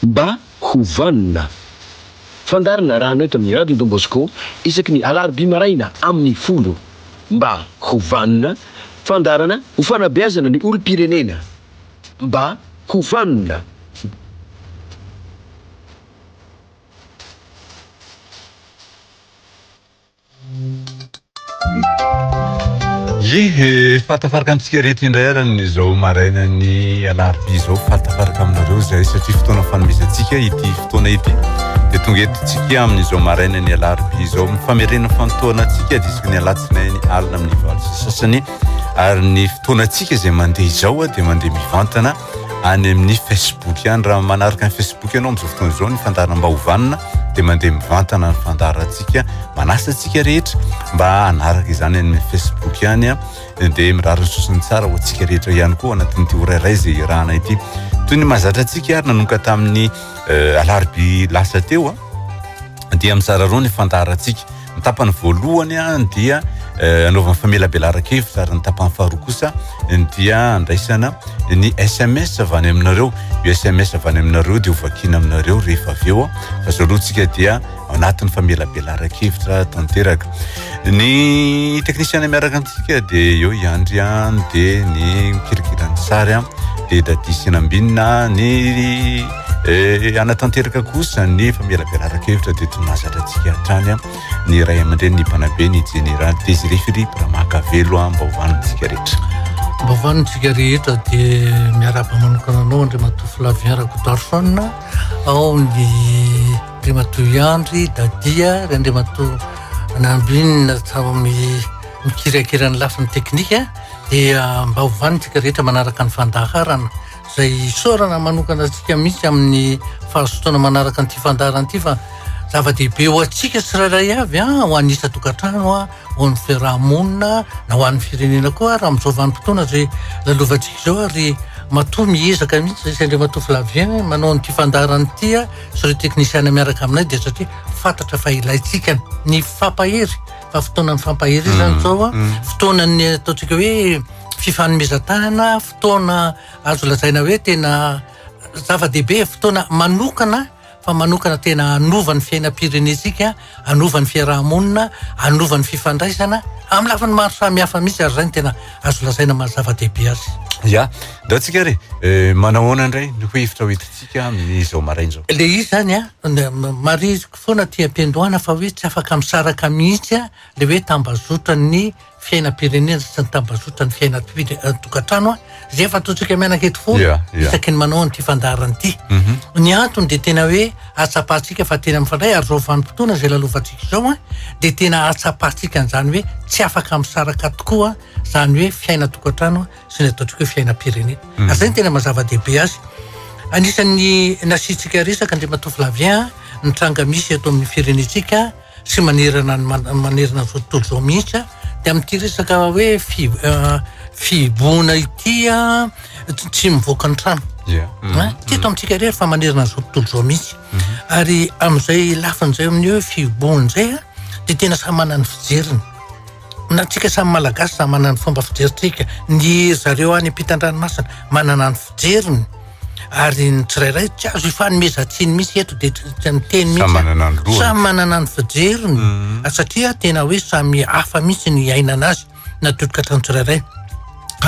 Mba ho vanona, fandaharana rano eto amin'ny Radio Don Bosco isaky ny alarobia maraina amin'ny folo. Mba ho vanona, fandaharana ho fanabeazana ny olom-pirenena. Mba ho vanona. Ye he! Fahatafaraka amintsika ireto indray ary amin'izao marainan'ny alarobia izao. Fahatafaraka aminareo izay satria fotoana fanomezantsika ity fotoana ity. Dia tonga eto tsika amin'izao marainan'ny alarobia izao. Mifamerena fantoana antsika diska ny alatsinainy alina amin'ny valo sy sasany. Ary ny fotoana antsika izay mandeha izao dia mandeha mivantana. any amin'ny Facebook ihany raha manaraka ny Facebook ianao amin'izao fotoana izao ny fandaharam-baovana dia mandeha mivantana ny fandaharantsika manasa antsika rehetra mba hanaraka izany any amin'ny Facebook ihany a dia mirary ny sosony tsara ho antsika rehetra ihany koa anatin'ity ora iray izay irana ity toy ny mahazatra antsika ary nanoka tamin'ny euh, alarobia lasa teo a dia mizara roa ny fandaharantsika Ny tapany voalohany dia eh, anaovana famelabelaran-kevitra ary ny tapany faharoa kosa dia andraisana ny SMS avy any aminareo. Io SMS avy any aminareo dia hovakiana aminareo rehefa avy eo fa zao aloha tsika dia anatin'ny famelabelaran-kevitra tanteraka. Ny teknisiana miaraka amintsika dia eo iandry an dia ny kilikilany sary an dia dadisina ambinina ny Eh, hanatanteraka kosa ny famelabelaran-kevitra dia tonazatra antsika hatrany ny ray aman-dreny ny mpanabe ny jeneraly Désiré Philippe Ramakavelo mba hovanontsika rehetra. Mba hovanontsika rehetra dia miarahaba manokana anao Andriamatoa Flavien Rakotoarison ao ny Andriamatoa Iandry Dadia ry Andriamatoa Nambinina Tsarami mikirakira ny lafiny teknika dia mba hovanontsika rehetra manaraka ny fandaharana izay isaorana manokana antsika mihitsy amin'ny fahazotoana manaraka an'ity fandaharana ity fa zava-dehibe ho antsika tsirairay avy a ah, ho an'ny isa tokantrano a ah, ho an'ny fiarahamonina na ho an'ny firenena koa raha amin'izao vanim-potoana izay lalovantsika izao ary matoa miezaka mihitsy zay sendra matoa flavien manao an'ity fandaharana ity a ah, sy ireo teknisiana miaraka aminay dia satria fantatra fa ilaintsika ny fampahery fa fotoanan'ny fampahery izany mm, zao a mm. fotoanan'ny ataontsika hoe fifanomezan-tanana fotoana azo lazaina hoe tena zava-dehibe, fotoana manokana fa manokana tena hanova ny fiainam-pirenentsika, hanova ny fiaraha-monina, hanova ny fifandraisana amin'ny lafiny maro samihafa mihitsy ary izay no tena azo lazaina maha zava-dehibe azy. Ya, ndao tsika ary eh, manahoana indray no ho hevitra hoentintsika amin'izao maraina izao? Le izy zany a, marihiko foana aty am-piandohana fa hoe tsy afaka misaraka mihitsy le hoe tambazotran'ny fiainam-pirenena sy ny tambazotran'ny fiainan-tokantrano izay efa ataontsika mianakety foana isaky ny manao an'ity fandaharana ity. Mhm. Ny antony dia tena hoe atsapantsika fa tena mifandray ary izao vanim-potoana izay lalovantsika izao dia tena atsapantsika an'izany hoe tsy afaka misaraka tokoa izany hoe fiainan-tokantrano sy ny ataontsika hoe fiainam-pirenena. Mhm. Ary izay ny tena mazava-dehibe azy. Anisan'ny nasiantsika resaka Andriamatoa Flavien ny tranga misy eto amin'ny firenentsika sy manerana ny manerana ny tontolo izao mihitsy a, dia amin'ity resaka hoe fi- ah, fihibohana ity a, tsy tsy mivoaka ny trano. Dia, mm, Hein? Tsy eto amintsika irery fa manerana izao tontolo izao mihitsy. Ary amin'izay lafiny izay amin'ny hoe fihibohana izay a, dia tena samy manana ny fijeriny. Na antsika samy Malagasy samy manana ny fomba fijerintsika, ny zareo any ampitan-dranomasina manana ny fijeriny ary ny tsirairay tsy azo ifanomezan-tsiny mihitsy eto dia tsy miteny mihitsy, samy manana ny lohany, samy manana ny fijeriny ary satria tena hoe samy hafa mihitsy ny iainana azy na totokatrano tsirairay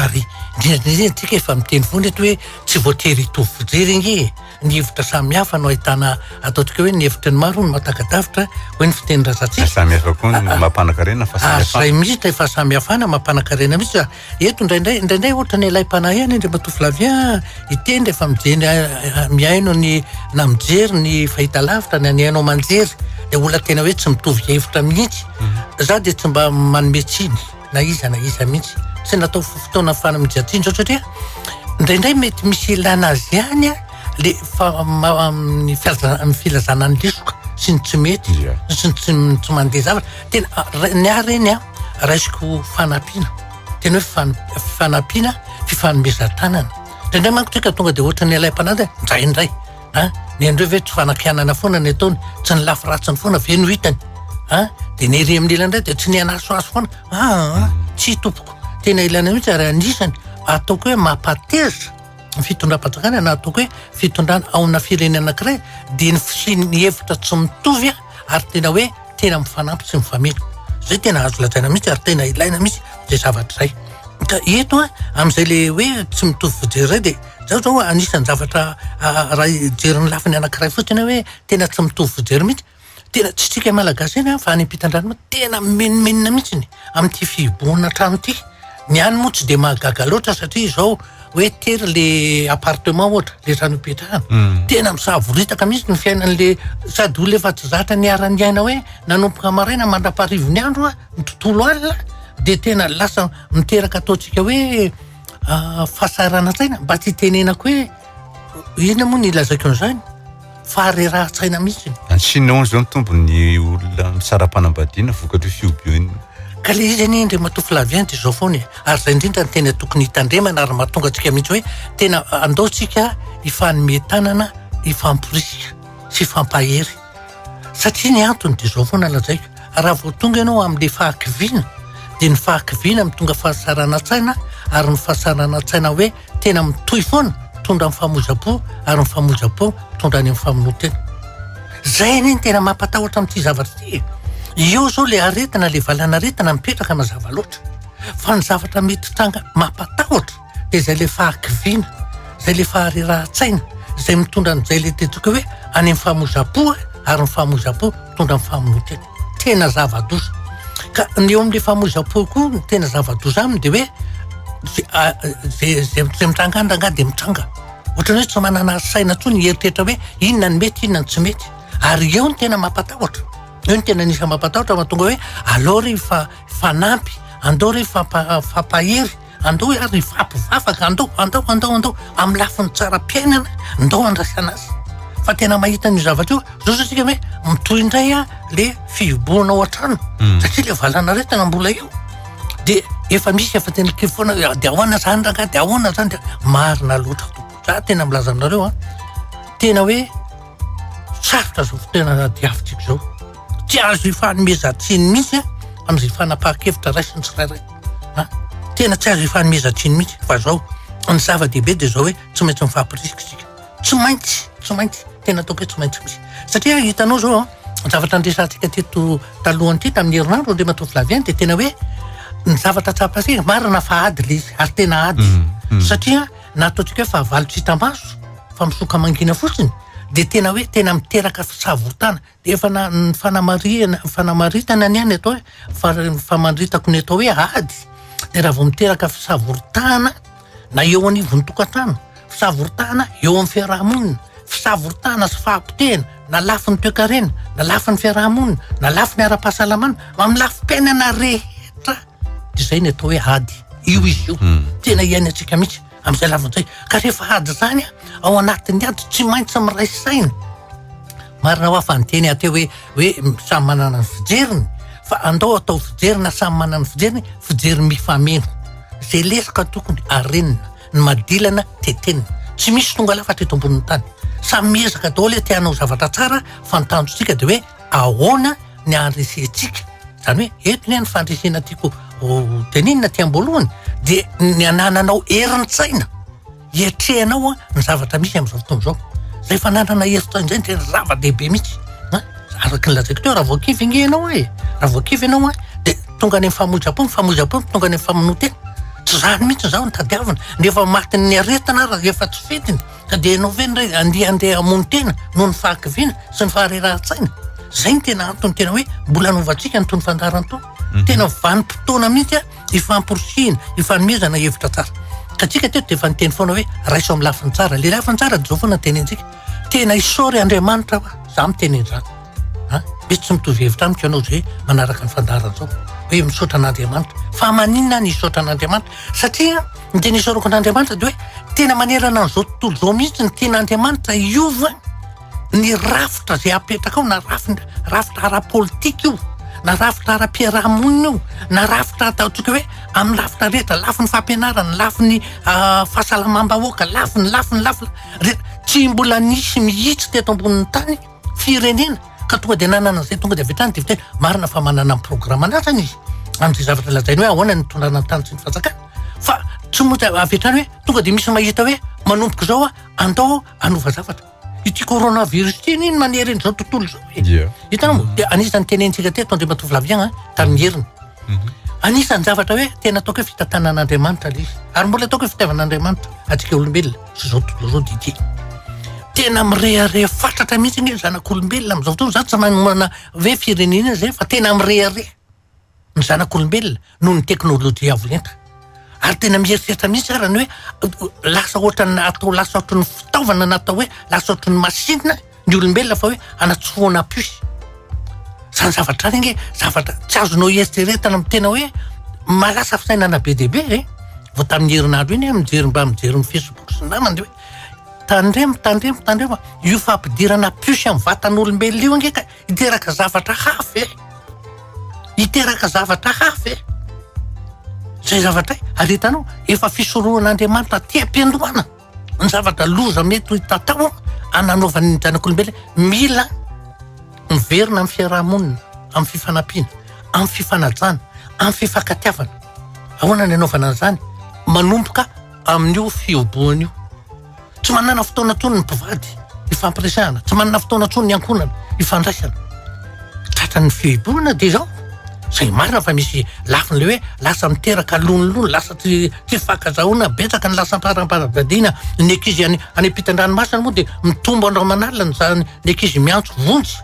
ary indrindra indrindra isika efa miteny foana eto hoe tsy voatery hitovy fijery ange e! ny hevitra samy hafa no ahitana ataontsika hoe ny hevitry ny maro no mahataka-davitra hoe ny fitenin-drazantsika. Samy hafa koa no mampanakarena fa samy hafa. Izay mihitsy ilay fahasamihafana mampanakarena mihitsy. Ah, eto indraindray indraindray ohatra ny ilay mpanahy any Andriamatoa Flavien ah, hiteny rehefa mijery ah, mihaino ny na mijery ny fahitalavitra na ny haino aman-jery dia olona tena hoe tsy mitovy hevitra mihitsy. Mhm. Za dia tsy mba manome tsiny. na iza na iza mihitsy tsy natao fotoana fany mijajinjo satria indraindray mety misy ilana azy ihany a le fa amin'ny fiazan'ny filazana ny lesoka sy ny tsy mety sy ny tsy tsy mandeha zavatra tena ny ah reny a raisiko fanampiana tena hoe fan- fanampiana fifanomezan-tanana indraindray manko tsika tonga de ohatran'ny ilay mpanady ndraindray a ny an'ireo ve tsy fanakianana foana ny ataony tsy ny lafy ratsiny foana ve no hitany a dia ny ery amin'n'ilany indray dia tsy ny anasoaso foana aa tsy tompoko tena ilana mihitsy ary anisany ataoko hoe mampahatezitra ny fitondram-panjakana na ataoko hoe fitondrana ao amina firenena anankiray dia ny fisian'ny hevitra tsy mitovy a ary tena hoe tena mifanampy sy mifameno zay tena azo lazaina mihitsy ary tena ilaina mihitsy zay zavatra zay ka eto a amin'izay le hoe tsy mitovy fijery zay de zao zao anisan'ny zavatra raha hijery ny lafiny anankiray fotsiny hoe tena tsy mitovy fijery mihitsy tena tsy tsika malagasy ihany fa any am-pitandrana tena mimenomenona mihitsy ny amin'ity fihibohana trano ity Ny any moa tsy dia mahagaga loatra satria izao hoe tery le appartement ohatra le trano ipetrahana hmm. tena misavoritaka mihitsy ny fiainan'le sady olona efa tsy zatra niaran'ny aina hoe nanomboka maraina mandra-paharivony andro a ny tontolo alina dia tena lasa miteraka ataontsika hoe ah, fahasahiranantsaina mba tsy hitenenako hoe inona moa ny ilazako an'izany faharerahan-tsaina mihitsy. Any Chine hono izao ny tombony ny olona misara-panambadiana vokatry ny fihobihoan'ny Ka le izy anie Andriamatoa Flavien dia izao foana e, ary izay indrindra no tena tokony hitandremana ary mahatonga antsika mihitsy hoe tena andao tsika hifanome tanana, hifamporisika sy hifampahery. Satria ny antony dia izao foana lazaiko, raha vao tonga ianao amin'ilay fahakiviana dia ny fahakiviana no tonga fahasarana an-tsaina ary ny fahasarana an-tsaina hoe Tena mitohy foana, mitondra amin'ny famoizam-po ary ny famoizam-po mitondra any amin'ny famonoan-tena. Zay anie ny tena mampatahotra amin'ity zavatra ity e! Eo zao le aretina, le valanaretina mipetraka mazava loatra. Fa ny zavatra mety hitranga mampatahotra dia izay le fahakiviana, izay le faharerahan-tsaina, izay mitondra an'izay le tiantsika hoe any amin'ny famoizam-po ary ny famoizam-po mitondra amin'ny famonoan-tena. tena zava-doza. Ka ny eo amin'ny famoizam-po koa ny tena zava-doza aminy dia hoe zay mitranga any rangahy dia mitranga. Ohatran'ny hoe tsy manana saina intsony hieritreritra hoe inona no mety inona no tsy mety. Ary eo ny tena mampatahotra. Eo ny tena anisany mampatahotra mahatonga hoe aleo re fa fanampy, andao re fa fampahery. Andao iary hifapo vavaka, andao, andao, andao, andao, amin'ny lafiny tsaram-piainana, ndao handraisana azy. Fa tena mahita an'io zavatra io, zao zao tsika hoe mitohy indray a, le fihibohana ao an-trano, hmm. satria le valan'aretina mbola eo. De efa misy efa tena kivy foana, de ahoana zany ranga, de ahoana zany, de marina loatra tompoko, za tena milaza aminareo a, tena hoe sarotra zao fotoana diavintsika zao. Tsy azo ifanomezan-tsiny mihitsy amin'izay fanapahan-kevitra raisin'ny tsirairay. Tena tsy azo ifanomezan-tsiny mihitsy fa zao ny zava-dehibe dia zao hoe tsy maintsy mifampirisika isika. Tsy maintsy, tsy maintsy, tena ataoko hoe tsy maintsy misy. Satria hitanao zao ny zavatra niresahantsika teto taloha an'ity tamin'ny herinandro Andriamatoa Flavien dia tena hoe ny zavatra tsapantsika marina fa ady ilay izy ary tena ady. Mm, mm. Satria na ataontsika hoe fahavalo tsy hita maso fa misoka mangina fotsiny dia tena hoe tena miteraka fisavotana. Efa na ny fanamarihana fanamaritana anie ny atao hoe fa ny famaritako ny atao hoe ady dia raha vao miteraka fisavoritahana na eo anivon'ny tokantrano, fisavoritahana eo amin'ny fiaraha-monina, fisavoritahana sy fahapotehana na lafiny toekarena, na lafiny fiaraha-monina, na lafiny ara-pahasalamana, amin'ny lafim-piainana rehetra dia izay ny atao hoe ady. Io izy io, tena iainantsika mihitsy. Amin'izay lavadrao izay. Ka rehefa ady izany ao anatin'ny ady tsy maintsy miray saina. Marina hoa fa ny teny aty hoe hoe samy manana ny fijeriny fa andao atao fijery na samy manana ny fijeriny, fijery mifameno. Izay lesoka tokony arenina, ny madilana tetenina. Tsy misy tonga lafatra eto ambonin'ny tany. Samy miezaka daholo te hanao zavatra tsara fa ny tanjontsika dia hoe ahoana ny handresentsika. Izany hoe eto ny fandresena tiako hotenenina aty am-boalohany dia ny anananao herin-tsaina hiatrehanao ny zavatra misy amin'izao fotoana izao. Izay fananana herin-tsaina izay no tena zava-dehibe mihitsy. Araka ny lazaiko teo raha voakivy ange ianao e, raha voakivy ianao a dia tonga any amin'ny famoizam-po, ny famoizam-po no tonga any amin'ny famonoan-tena. Tsy izany mihitsy izao no tadiavina. Ny efa matin'ny aretina ary efa tsy fidiny. Ka dia ianao ve indray andeha handeha hamono tena noho ny fahakiviana sy ny faharerahan-tsaina? Izay no tena antony tena hoe mbola hanovantsika an'itony fandaharana itony. Mhm. Tena vanim-potoana mihitsy a, hifamporisihina, hifanomezana hevitra tsara. Ka antsika teto dia efa niteny foana hoe raiso amin'ny lafiny tsara. Ilay lafiny tsara dia izao foana no tenentsika. Tena isaory Andriamanitra fa izaho miteny an'izany. A, mety tsy mitovy hevitra amiko ianao izay manaraka ny fandaharana izao hoe misaotra an'Andriamanitra. Fa maninona aho no hisaotra an'Andriamanitra? Satria Ny tena isaorako an'Andriamanitra dia hoe tena manerana an'izao tontolo izao mihitsy ny tian'Andriamanitra hiova ny rafitra izay apetraka ao na rafitra rafitra ara-politika io na rafitra ara-piarahamonina io na rafitra ataontsika hoe amin'ny rafitra rehetra lafiny fampianarana lafiny ah, fahasalamam-bahoaka lafiny lafiny lafiny rehetra tsy mbola nisy mihitsy teto ambonin'ny tany firenena ka tonga dia nanana izay tonga dia avy hatrany dia vita hoe marina fa manana ny programme an'atrany izy amin'izay zavatra lazainy hoe ahoana ny tondrana ny tany sy ny fanjakana fa tsy moa dia avy hatrany hoe tonga dia misy mahita hoe manomboka izao a andao hanova zavatra ity coronavirus ity anie ny manery an'izao tontolo izao e yeah. hitanao mm. dia anisan'ny tenentsika teto andriamatoa vilaviagna tamin'ny heriny mhm. anisan'ny zavatra hoe tena ataoko hoe fitantanan'andriamanitra le izy ary mbola ataoko hoe fitiavan'andriamanitra atsika olombelona Izao tontolo izao Didier, tena mirehareha fatratra mihitsy anie ny zanak'olombelona amin'izao fotoana. Izaho tsy manomana hoe firenena izay fa tena mirehareha ny zanak'olombelona noho ny teknolojia avo lenta. Ary tena mieritreritra mihitsy aho raha ny hoe lasa ohatran'ny atao lasa ohatran'ny fitaovana na atao hoe lasa ohatran'ny masinina ny olombelona fa hoe anatsofohana puce. Zany zavatra zany ange zavatra tsy azonao hieritreretana amin'ny tena hoe marasa fisainana be dia be e. Vao tamin'ny herinandro iny aho mijery mba mijery ny facebook sy ny namany hoe tandremo tandremo tandremo a! io fampidirana puce amin'ny vatan'olombelona io ange ka hiteraka zavatra hafa e! hiteraka zavatra hafa e! zay zavatra hay ary hitanao efa fisorohan'Andriamanitra aty am-piandohana. ny zavatra loza mety ho tatao ananaovany ny zanak'olombelona mila miverina amin'ny fiarahamonina amin'ny fifanampiana amin'ny fifanajana amin'ny fifankatiavana ahoana ny anaovana an'izany manomboka amin'io fihobohana io tsy manana fotoana tsony ny mpivady ifampiresahana tsy manana fotoana tsony ny ankonana ifandraisana tratran'ny fihibohana dia zao Izay marina fa misy lafiny ilay hoe lasa miteraka lonilony, lasa tsy tsy fankazahona, betsaka ny lasa am-param-panambadiana. Ny ankizy any any ampitan-dranomasina moa dia mitombo andro aman'alina ny za- ny ankizy miantso vonjy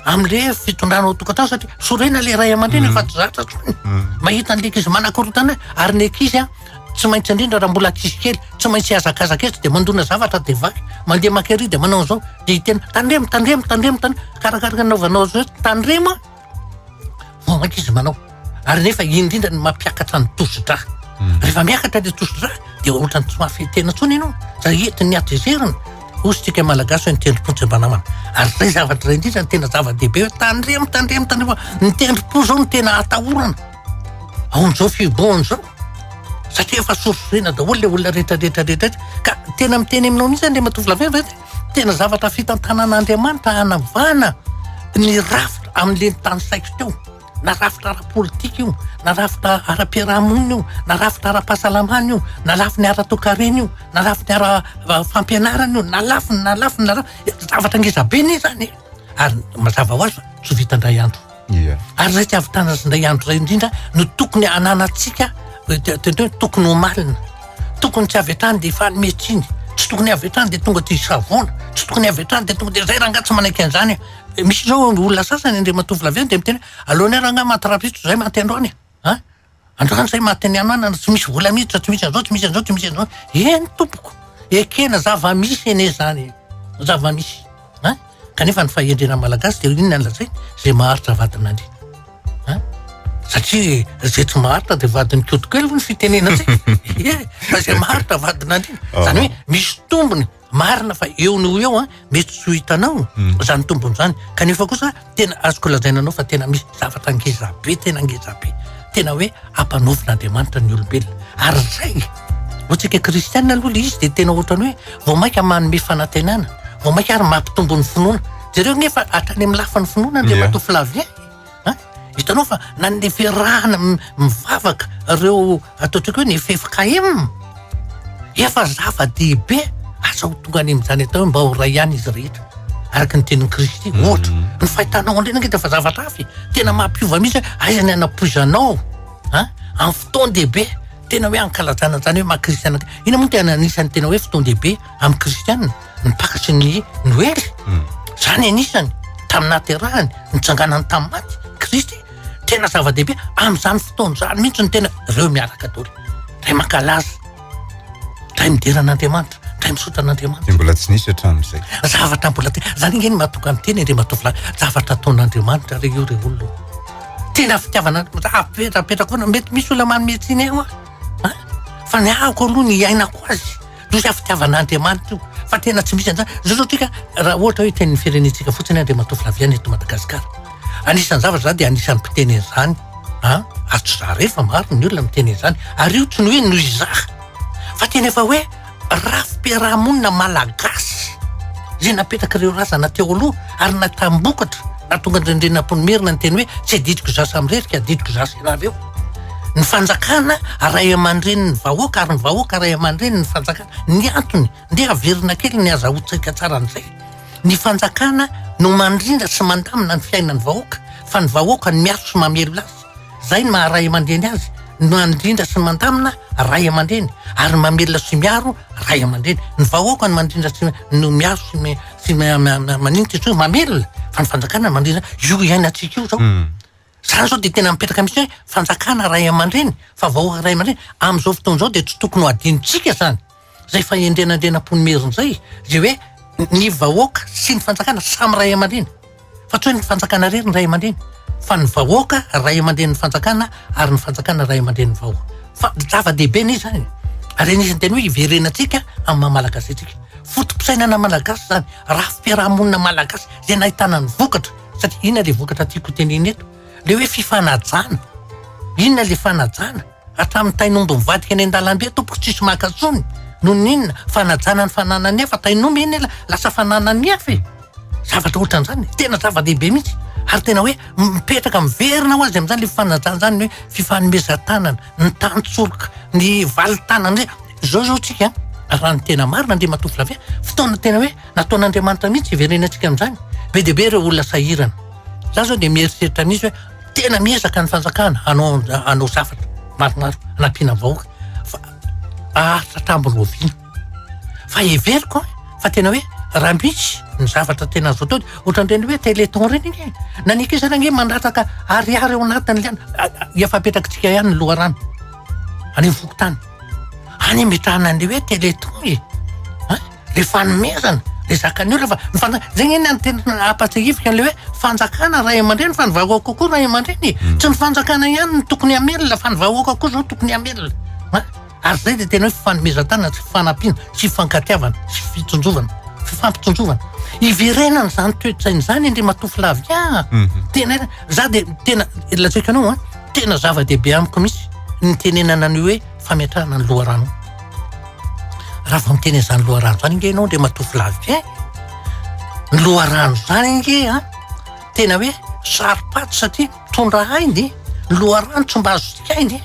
amin'ilay fitondrana ao an-tokantrano satria sorena ilay ray aman-dreny efa tsy zatra intsony. Mahita an'ilay ankizy manakorontana ary ny ankizy an, tsy maintsy indrindra raha mbola ankizy kely, tsy maintsy hihazakazaka etsy dia mandona zavatra dia vaky, mandeha maka ery dia manao an'izao dia hiteny tandremo, tandremo, tandremo, tandremo, arakaraka ny anaovanao azy hoe tandremo an! vao mainka izy manao ary nefa indrindra ny mampiakatra ny tosidra hmm. rehefa miakatra le tosidra dia ohatrany tsy mafy tena tsony ianao zay entin'ny atezerina ositsika malagasy hoe ny tendrom-pontsy mbanamana ary zay zavatra ray indrindra ny tena zava-dehibe hoe tandremo tandremo tandremo ny tendrom-po zao no tena atahorana aon'izao fibohana zao satria efa sorisorena daholo le olona rehetrarehetrarehetra ka tena miteny aminao mihitsy any le matovolavevety Tena zavatra fitantanan'Andriamanitra hanavahana ny rafitra amin'le nitany saiko teo, na rafitra ara-politika io, na rafitra ara-piarahamonina io, na rafitra ara-pahasalamana io, na lafiny ara-toekarena io, na lafiny ara-fampianarana io, na lafiny, na lafiny, na lafiny. Zavatra ngezabe ne zany e! Ary mazava ho azy fa tsy ho vita indray andro. Ia. Ary izay tsy ahavitana azy indray andro izay indrindra no tokony ananantsika tokony hoe tokony homalina. Tokony tsy avy hatrany dia efa mety iny. Tsy tokony avy hatrany dia tonga dia savoana. Tsy tokony avy hatrany dia tonga dia izay rangahy tsy manaiky an'izany. Misy izao olona sasany, andriamatoa Flavien, dia miteny hoe, aleonay rangahy manty rafitro izay manty androany e! Androany zay maty ny ananana, tsy misy vola miditra, tsy misy an'izao, tsy misy an'izao, tsy misy an'izao. Eny tompoko, ekena zava-misy anie izany e. Zava-misy. An? Kanefa ny fahendrena malagasy dia inona no lazainy? Izay maharitra vadina anie. An? Satria izay tsy maharitra dia vadin'ny koto kely hoy ny fitenenantsika. Ie, fa izay maharitra vadina anie. Izany hoe misy tombony Marina fa eo no ho eo an, mety tsy ho hitanao izany tombony izany, kanefa kosa tena azoko lazaina anao fa tena misy zavatra ngeza be, tena ngeza be, tena hoe ampanaovin'Andriamanitra ny olombelona. Ary izay, ho antsika kristianina aloha ilay izy dia tena ohatran'ny hoe vao mainka manome fanantenana, vao mainka ary mampitombo ny finoana. Jereo anie fa hatrany amin'ny lafiny finoana Andriamatoa Flavien. An! Hitanao fa na ny fiarahana mivavaka ireo ataontsika hoe ny ffkm efa zava-dehibe, asa ho tonga any amin'izany atao hoe mba ho iray ihany izy rehetra araka ny tenin'i Kristy mhm. ohatra. Ny fahitanao andrena angeta fa zavatra hafa e. Tena mampiova mihitsy hoe aiza ny anapoizanao an amin'ny fotoan-dehibe tena hoe ankalazana izany hoe maha kristiana. Ina moa tena anisan'ny tena hoe fotoan-dehibe amin'ny kristianina ny takatry ny noely zany anisany tamin'ny nahaterahany nitsanganany tamin'ny maty kristy tena zava-dehibe amin'izany fotoana izany mihitsy ny tena reo miaraka doly ray mankalaza ray midera an'andriamanitra ray misotra an'andriamanitra mbola tsy nisy hatramin'izay zavatra mbola te zany nge ny mahatonga ny teny re matovolahy zavatra ataon'andriamanitra re io re olona tena fitiavana apetrapetrakoana mety misy olona manome tsiny aho fa ny ahako aloha ny iainako azy Misy aho fitiavan'Andriamanitra io fa tena tsy misy an'izany. Zao zao tsika raha ohatra hoe tenin'ny firenentsika fotsiny Andriamatoa Flaviana eto Madagasikara. Anisan'ny zavatra za dia anisan'ny mpiteny an'izany an, ary tsy za irery fa maro ny olona miteny an'izany. Ary io tsy ny hoe noho izaho fa tena efa hoe rafi-piarahamonina malagasy izay napetrak'ireo razana teo aloha ary natambokatra nahatonga an'ireny renin'Ampoinimerina niteny hoe tsy adidiko za samirery ka adidiko za sy ianareo. Ny fanjakana ray aman-drenin'ny vahoaka ary ny vahoaka ray aman-drenin'ny fanjakana. Ny antony, ndeha averina kely ny hazahoantsika tsara an'izay. Ny fanjakana no mandrindra sy mandamina ny fiainan'ny vahoaka fa ny vahoaka no miaro sy mamelona azy. Izay no maha ray aman-dreny azy, mandrindra sy mandamina ray aman-dreny ary mamelona sy miaro ray aman-dreny. Ny vahoaka no mandrindra sy no miaro sy sy maninona izy io, mamelona fa ny fanjakana no mandrindra io iainantsika io izao. Za zao dia tena mipetraka mihintsy hoe fanjakana ray aman-dreny fa vahoaka ray aman-dreny. Amin'izao fotoana izao dia tsy tokony ho adinontsika izany. Izay fahendrenandrenam-pon'Imerina izay izay hoe ny vahoaka sy ny fanjakana samy ray aman-dreny. Fa tsy hoe ny fanjakana irery no ray aman-dreny fa ny vahoaka ray aman-drenin'ny fanjakana ary ny fanjakana ray aman-drenin'ny vahoaka. Fa zava-dehibe ny izany. Ary anisan'ny tena hoe hiverenantsika amin'ny maha malagasy antsika. Foto-pisainana malagasy izany, rafi-piarahamonina malagasy izay nahitana ny vokatra. Sady inona ilay vokatra tiako hotenenina eto? Ilay hoe fifanajana. Inona ilay fanajana? Hatramin'ny tain'omby mivadika eny an-dalambe tompoko tsisy maka tsony. Noho ny inona? Fanajana ny fananan'ny hafa. Tain'omby iny ela lasa fananan'ny hafa e. Zavatra ohatran'izany. Tena zava-dehibe mihitsy. Ary tena hoe mipetraka miverina ho azy amin'izany ilay fanajana izany, ny hoe fifanomezan-tanana, ny tantsoroka, ny valintanana. Izao izao tsika raha ny tena marina Andriamatoa Flavien, fotoana tena hoe Nataon'Andriamanitra mihitsy hiverenany antsika amin'izany. Be dia be ireo olona sahirana. Za zao dia mieritreritra mihitsy hoe tena miezaka ny fanjakana hanao hanao zavatra maromaro hanampiana ny vahoaka fa haharitra hatramin'ny oviana. Fa heveriko fa tena hoe raha misy ny zavatra tena azo atao ohatran'ireny hoe téléthon ireny anie. Na ny ankizy ary anie mandataka ariary ao anatin'ny liana. Efa apetrakintsika ihany ny loharano any amin'ny fokontany. Any ametrahana an'ilay hoe téléthon e. Dia fanomezana dia zakan'ny olona fa ny fanjakana, izay anie ny tena nampahatsiahiviko an'ilay hoe fanjakana ray aman-dreny fa ny vahoaka koa koa ray aman-dreny e. Tsy ny fanjakana ihany no tokony hamelona fa ny vahoaka koa izao tokony hamelona. An? Ary izay dia tena hoe fifanomezan-tanana sy fifanampiana sy fifankatiavana sy fitsinjovana, fifampitsinjovana. Iverenana izany toe-tsaina izany Andriamatoa Flavia a. Tena hoe, izaho dia tena lazaiko anao an, tena zava-dehibe amiko mihitsy ny tenenana an'io hoe, fametrahana ny loharano. Raha vao miteny an'izany loharano izany ange ianao Andriamatoa Flavien, eh? ny loharano izany ange a, tena hoe saro-paty satria mitondra ainy, ny loharano tsy mba azo sikainy e,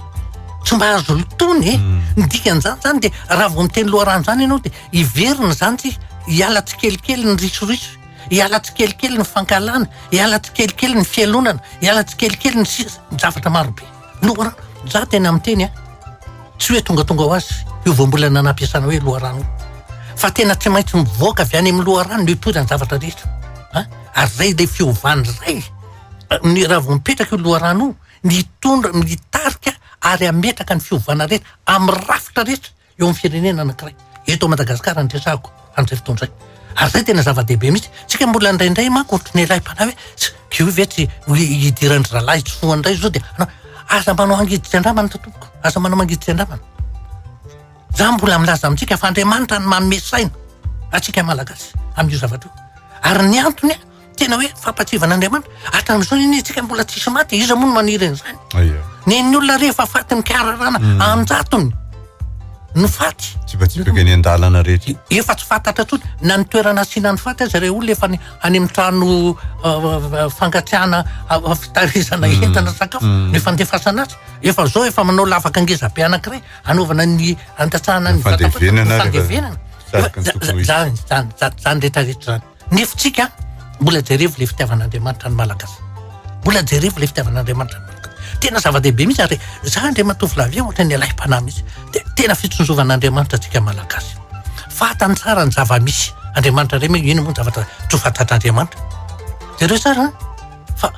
tsy mba azo lotoiny e, mm. ny dikan'izany izany dia raha vao miteny loharano izany ianao dia hiverina izany tsy hiala tsikelikely ny risoriso, hiala tsikelikely ny fankalana, hiala tsikelikely ny fialonana, hiala tsikelikely ny sisa, zavatra marobe. Loharano, za tena miteny a, tsy hoe tongatonga ho azy io voambolana nampiasana hoe loharano io, fa tena tsy maintsy mivoaka avy any amin'ny loharano ny toetra ny zavatra rehetra a, ary izay ilay fiovany iray ny raha vao mipetraka io loharano io, mitondra, mitarika ary hametraka ny fiovana rehetra amin'ny rafitra rehetra. eo amin'ny firenena anankiray. Eto Madagasikara no resahako amin'izay fotoana izay. Ary izay tena zava-dehibe mihitsy. Tsika mbola indraindray manko ohatrany ilay mpanahy hoe tsy io ve tsy hidiran-dry zalahy tsy soa indray izao dia anao aza manao angiditsy andramana tompoko. Aza manao mangiditsy andramana. Za mbola milaza amintsika fa Andriamanitra no manome saina antsika Malagasy amin'io zavatra io. Ary ny antony Tena hoe fampatsiahivana Andriamanitra. Hatramin'izao anie isika mbola tsisy maty, iza moa no maniry an'izany? Aia. Nen'ny olona rehefa efa fatin'ny mpiararana hmm. anjatony no faty. Tsipatsipaka eny an-dalana rehetra. Efa tsy fantatra tsony na ny toerana asiana ny faty aza ireo olona efa any amin'ny trano uh, fangatsiahana uh, fitarizana hmm. entana sakafo hmm. no fandefasana azy. Efa zao efa manao lavaka ngeza be anankiray anaovana ny andatsahana ny fandevenana. Fandevenana. Zany rehetra rehetra zany. Ny hevitrika an, mbola jerevo ilay fitiavan'Andriamanitra ny Malagasy. Mbola jerevo ilay fitiavan'Andriamanitra ny Malagasy. Tena zava-dehibe mihitsy ary izaho Andriamatovolavy io ohatran'ny alahim-panahy mihitsy. Dia tena fitsonjovan'Andriamanitra antsika Malagasy. Fantany tsara ny zava-misy. Andriamanitra indray moa inona moa ny zavatra tsy ho fantatr'Andriamanitra. Jereo tsara an, fa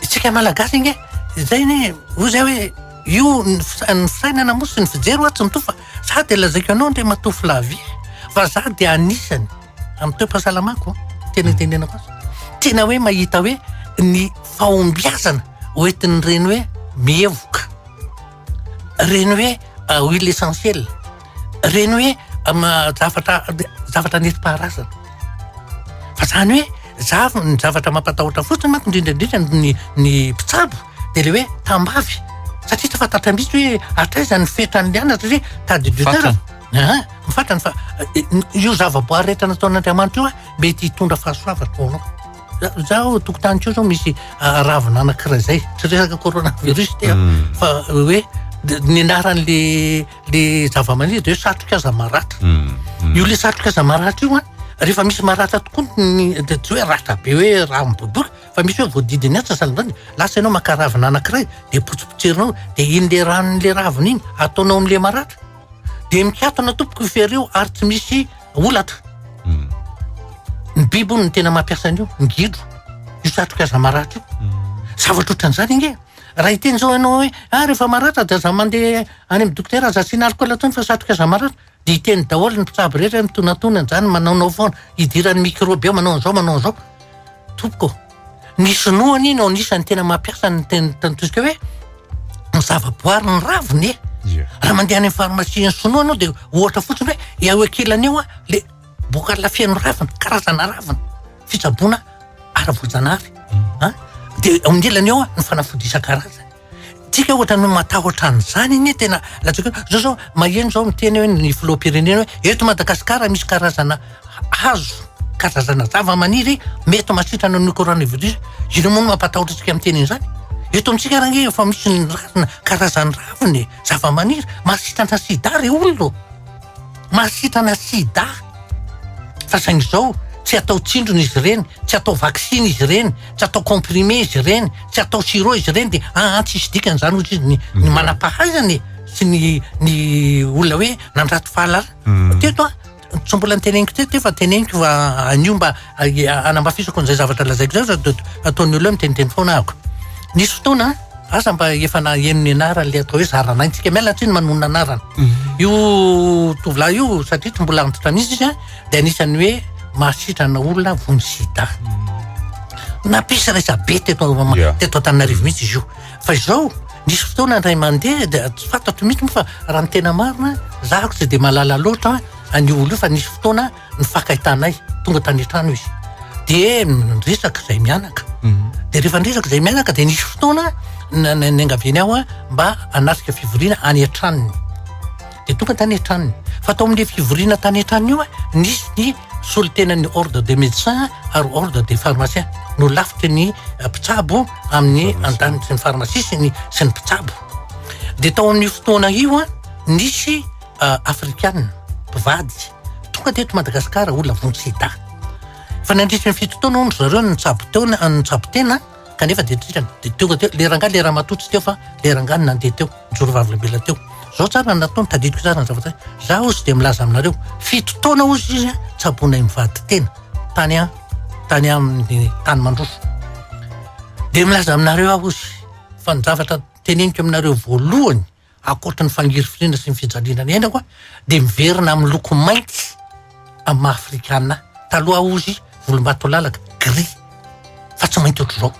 isika Malagasy ange izay anie hoy izay hoe io ny fisa- ny fisainana moa sy ny fijery ho'a tsy mitovy fa za dia lazaiko anao Andriamatovolavy fa za dia anisany. Amin'ny toe-pahasalamako, tena itenenako azy. Tena hoe mahita hoe ny fahombiazana hoentin'ireny hoe mihevoka, ireny hoe ah, huile essentielle, ireny hoe ah, zavatra zavatra nentim-paharazana. Fa izany hoe zav ny zavatra mampatahotra fotsiny manko indrindra indrindra ny ny mpitsabo dia le hoe tambavy satria tsy fantatra mihitsy hoe hatraiza ny fetran'ny anatra satria tas de Aa, ny fatrany fa io zavaboary rehetra nataon'Andriamanitra io mety hitondra fahasoavana ho anao. Zaho tokotany koa zao misy ravina anankiray zay, tsy resaka coronavirus ity an, fa hoe ny anaran'le le zavamaniry de hoe satroka aza maratra. Io le satroka aza maratra io an, rehefa misy maratra tokoa ny de tsy hoe ratra be hoe raha miboboka fa misy hoe voadidiny antsasany lasa ianao maka ravina anankiray de potsipotserinao de iny le ranon'le ravina iny ataonao am'le maratra. dia mikatona tompoko io fery io ary tsy misy olatra hmm. ny biby ony ny tena mampiasa an'io ny gidro io satroka aza maratra io hmm. zavatra ohatran'izany nge raha iteny zao ianao hoe a ah, rehefa maratra dia aza mandeha any amin'ny dokotera aza asiana alcool tony fa satroka aza maratra dia iteny daholo ny mpitsabo rehetra mitonatona an'izany manaonao foana idiran'ny microbe eo manao an'izao manao an'izao tompoko Ny sinoa anie no anisan'ny tena mampiasa ny teny tantoska hoe ny zavaboary ny raviny e. Yeah. Raha mandeha any amin'ny farmasia ny sinoa anao dia ohatra fotsiny hoe eo ankilany eo le boka lafeno ravina, karazana ravina, fitsaboana ara-boajanahary. Mm. Dia eo amin'ny ilany eo ny fanafody isan-karazany. Tsika ohatra no matahotra an'izany anie tena latsaka eo. Zao zao maheno zao miteny hoe ny filoham-pirenena hoe eto Madagasikara misy karazana hazo, karazana zava-maniry mety mahasitrana an'io coronavirus io. Inona moa no mampatahotra antsika miteny an'izany? Eto amintsika ary ange efa misy ny razana, karazan'ny raviny, zava-maniry mahasitrana sida re olona ô! Mahasitrana sida fa saingy izao tsy atao tsindrona izy ireny, tsy atao vaksiny izy ireny, tsy atao comprimé izy ireny, tsy atao sirop izy ireny dia an an tsisy dikany izany hoy izy ny ny manam-pahaizana e! sy ny ny olona hoe nandrato fahalalana. Teto an, tsy mbola noteneniko teto io fa teneniko fa anio mba Hanamafisako an'izay zavatra lazaiko izay fa ataon'ny olona hoe miteniteny foana ahako. Nisy fotoana, aza mba efa naheno ny anarany ilay atao hoe Zarana ny tsika miala tsiny manonona anarana. Mhm. Io tovolahy io satria tsy mbola antitra mihitsy izy dia anisan'ny hoe mahasitrana olona vony sida. Mhm. Nampisy resa-be teto teto Antananarivo mihitsy izy io. Fa izao nisy fotoana indray mandeha dia tsy fantatro mihitsy moa fa raha ny tena marina, zahako tsy dia mahalala loatra an'io olona io fa nisy fotoana nifakaitanay tonga tany an-trano izy dia niresaka izay mianaka mhm. dia rehefa niresaka izay mianaka dia nisy fotoana niangaviany aho a mba anasika fivoriana any an-tranony dia tonga tany an-tranony fa tao amin'ny fivoriana tany an-tranony io a nisy ny solontenan'ny ordre de médecin ary ordre de pharmacien no lafitry ny eh, mpitsabo amin'ny andaniny sy ny pharmacie sy ny sy ny mpitsabo dia tao amin'ny fotoana io a nisy afrikana mpivady tonga teto Madagasikara olona vonjy sida. Fa nandritry ny fito taona hono zareo no nitsabo teo no nitsabo tena kanefa dia tena dia tonga teo le rangahy le ramatoa tsy teo fa le rangahy no nandeha teo nijoro vavolombelona teo. Zao tsara ny nataony tadidiko tsara ny zavatra. Za hozy dia milaza aminareo fito taona hozy izy tsaboinay mivady tena tany a tany amin'ny tany mandroso. Dia milaza aminareo aho hozy fa ny zavatra teneniko aminareo voalohany Ankoatry ny fangirifiriana sy ny fijaliana ny ainako dia miverina amin'ny loko mainty amin'ny maha afrikana ahy. Taloha aho hozy volombatolalaka, gris, fa tsy mainty ohatr'izao.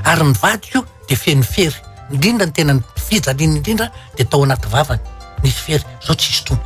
Ary ny vadiko dia feno fery, indrindra ny tena fijaliany indrindra dia tao anaty vavany nisy fery, izao tsy hisy intsony.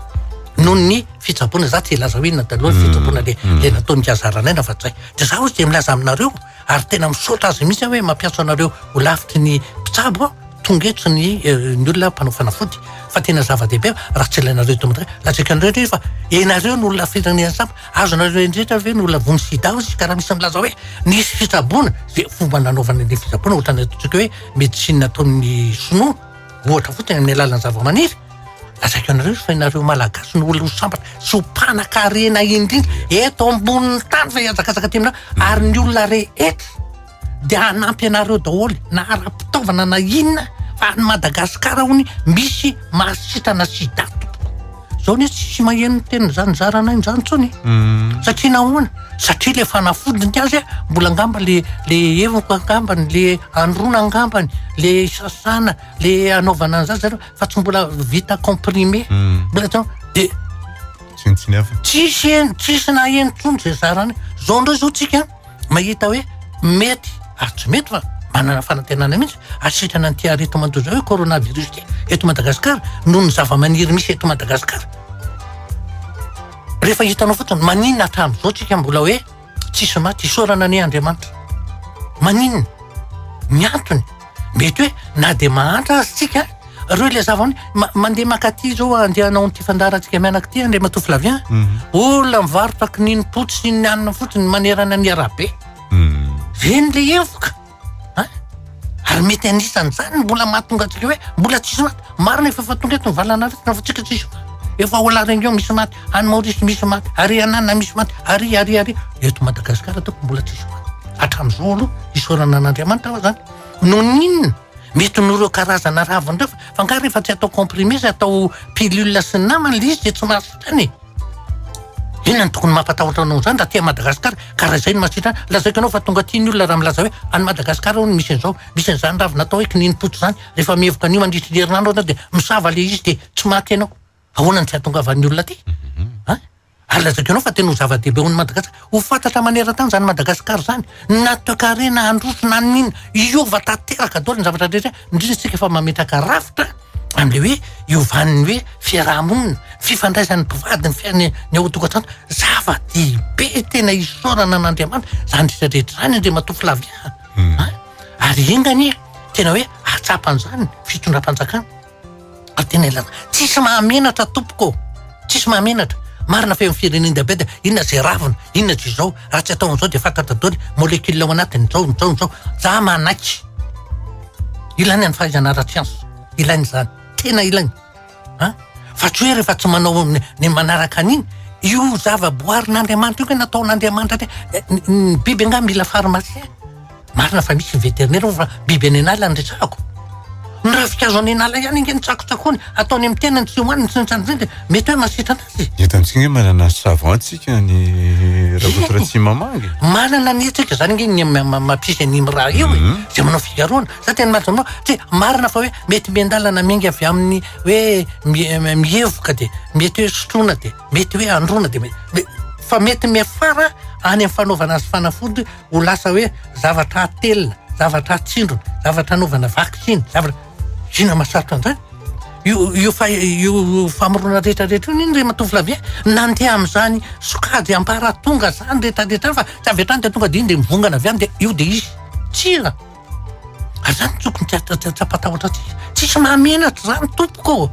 Noho ny fitsaboana, za tsy hilaza hoe inona taloha ny fitsaboana le le nataon'i Kazaranay na Vadizay. Dia za hozy dia milaza aminareo, ary tena misaotra azy mihitsy aho hoe mampiantso anareo ho lavitry ny mpitsabo aho tonga eto ny eh, ny olona mpanao fanafody fa tena zava-dehibe raha tsy ilainareo eto madra lajekanareo rehefa enareo no olona firenena samy azonareo endrehetra ve no lavony sida ao izy ka raha misy milaza hoe nisy fitsaboana zay fomba nanaovana ny fitsaboana ohatrany ataontsika hoe médecine ataon'ny sinoa ohatra fotsiny amin'ny alalan'ny zavamaniry Lazaiko anareo fa ianareo malagasy no olona ho sambatra sy ho mpanan-karena indrindra eto ambonin'ny tany fa hiazakazaka aty aminareo ary ny olona rehetra dia hanampy anareo daholo na ara-pitaovana na inona fa any Madagasikara hono misy mahasitrana sida tompoko. Izao anie tsisy maheno ny tenin'izany zarana an'izany intsony. Satria nahoana? Satria ilay fanafodiny ny azy mbola angamba le le hevoko angambany le anoroana angambany le sasana le anaovana an'izany zareo fa tsy mbola vita comprimé mbola atao de tsintsiny hafa tsisy en- tsisy na eny intsony zay zarany zao indray zao tsika mahita hoe mety ary tsy mety fa manana fanantenana mihitsy asitrana an'ity arety mandoza hoe coronavirus ity eto madagasikara noho ny zavamaniry misy eto madagasikara rehefa hitanao fotsiny maninona hatramin'izao tsika mbola hoe Tsisy maty isaorana anie Andriamanitra. Maninona? Ny antony, mety hoe na dia mahantra aza tsika, reo ilay zava ma, mandeha makaty izao andeha hanao an'ity fandaharantsika mianaka ity Andriamatoa Flavien. Mm. Olona mivarotra kininimpotsy sy ny hanina fotsiny manerana ny arabe. Mm. Ve ny lehevoka? An? Ary mety anisan'izany ny mbola mahatonga antsika hoe mbola tsisy maty. Marina efa efa tonga eto ny valan'aretina fa tsika tsisy maty. Efa ao La Réunion misy maty, any Maorisy misy maty, ary any Anana misy maty, ary ary ary. Eto Madagasikara ataoko mbola tsisy maty. Hatramin'izao aloha isaorana an'Andriamanitra aho izany. Noninona? Mety noho ireo karazana raviny ireo fa fa angaha rehefa tsy atao comprimé sy atao pilule sy ny namany ilay izy dia tsy mahasitrana e. Inona no tokony mampatahotra anao izany raha aty Madagascar ka raha izay no mahasitrana ahy. Lazaiko anao fa tonga aty ny olona raha milaza hoe any Madagascar hono misy an'izao, misy an'izany ravina atao hoe kininimpotsy izany. Rehefa mihevoka an'io mandritry ny herinandro ianao dia misava ilay izy dia tsy maty ianao. Ahoana no tsy hahatongavan'ny olona aty? An? Ary lazaiko anao fa tena ho zava-dehibe ho an'i Madagasikara. Ho fantatra maneran-tany izany Madagasikara izany, na toekarena handroso na ny inona, hiova tanteraka daholo ny zavatra rehetra, indrindra isika efa mametraka rafitra amin'ilay hoe hiovan'ny hoe fiaraha-monina, fifandraisan'ny mpivady, ny fiainana ny ao an-tokantrano, zava-dehibe tena isaorana an'Andriamanitra izany rehetra rehetra izany Andriamatoa Flavien a! ary enga anie tena hoe hatsapa an'izany ny fitondram-panjakana. Atenelana, tsisy mahamenatra tompoko ô! Tsisy mahamenatra! Marina fa eo amin'ny firenen-diabeta, inona izay ravina, inona izay izao, raha tsy atao an'izao dia fantatra daholo ny molecule ao anatiny, izao, izao, izao. Za manaiky. Ilaina ny fahaizana ara-tsiansa. Ilaina izany. Tena ilaina. An? Fa tsy hoe rehefa tsy manao ny, ny manaraka an'iny, io zava-boarin'Andriamanitra io ve nataon'Andriamanitra tena, ny, ny biby angaha mila pharmacien? Marina fa misy ny veterinera hono fa biby any an'ala no resahako. Ny ravinkazo any an'ala ihany ange no tsakotsakony, ataony amin'ny tenany, tsy hohaniny, tsy nitrandrarindra, mety hoe mahasitrana azy. Eto amintsika ange manana savon tsika ny Rakoto Ratsimamangy. Manana ny hetsika izany ange ny mampisy an'iny raha io e. Mhm. Izay manao figaroana. Za tena mahazo anao, tsy marina fa hoe mety miandalana miainga avy amin'ny hoe mi- mihevoka dia mety hoe sotroina dia mety hoe androana dia mety. Fa mety miafara any amin'ny fanaovana azy fanafody Ho lasa hoe zavatra atelina, zavatra atsindrona, zavatra anaovana vaksiny, zavatra... Inona mahasarotra an'izany? Io, io, fa, io famorona rehetrarehetra io nini ry matoa Flavien nandeha amin'izany sokajy amparatonga izany rehetrarehetra izany fa tsy avy hatrany dia tonga dia iny dia mivongana avy any dia io dia izy. Tsia. Ary zany tokony tsy ampatahotra antsika. Tsisy mahamenatra zany tompoko.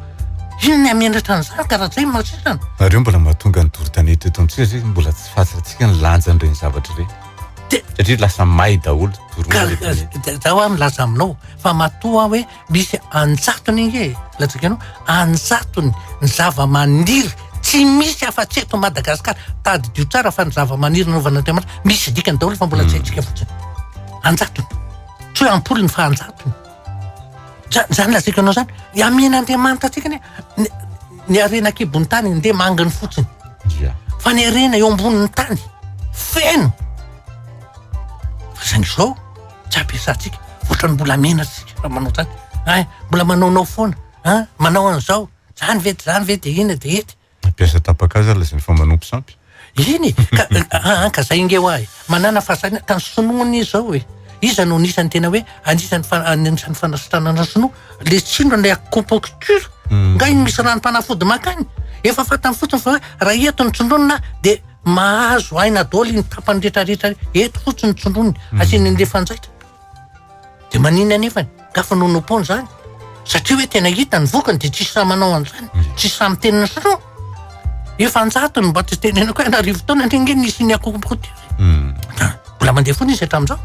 Inona ny hamenatra an'izany ka raha zay ny masisana. Ary io mbola mahatonga ny doro tanety eto amintsika zay mbola tsy fantatsika ny lanjany reny zavatra reny. Satria lasa may daholo doro tanety. Zaho aho milaza aminao fa matoa hoe Misy anjatony ange e, latsaka ianao, anjatony ny zava-maniry tsy misy afa-tsy eto Madagasikara. Tadidio tsara fa ny zava-maniry nanaovan'Andriamanitra misy dikany daholo fa mbola tsy haintsika fotsiny. Anjatony. Tsy hoe ampolony fa anjatony. Za- Zany lazaiko anao zany, amen'Andriamanitra antsika anie ny- ny harena an-kibon'ny tany ndeha manginy fotsiny. Dia. Fa ny harena eo ambonin'ny tany feno. Fa saingy izao. tsy ampiasantsika otrany mbola mena tsika raha manao zany ay mbola manaonao foana an manao an'izao zany ve de zany ve de ina de ity mpiasa tapaka aza lazainy fa manompo sampy iny ka an ka zay inge hoahy manana fahasahiana ka ny sinoa anie zao e iza no anisan'ny tena hoe anisan'ny anisan'ny fanasitranana sinoa le tsino ilay acupuncture nga iny misy ranom-panafody makany efa fantany fotsiny fa hoe raha eto ny tsindronina dia Mahazo aina daholo iny tapany rehetra rehetra iny. Eto fotsiny ny tsindroniny, hmm. asiany an'ilay fanjaitra. Dia manina anefany, gafa no nompony izany. Satria hoe tena hita ny vokany dia tsisy sahy manao an'izany, hmm. tsisy sahy miteny ny sinoa. Efa anjato no mba tsy tenenako hoe an'arivo taona ny ange nisy ny akokokoty. Hmm. Mbola mandeha foana izy hatramin'izao.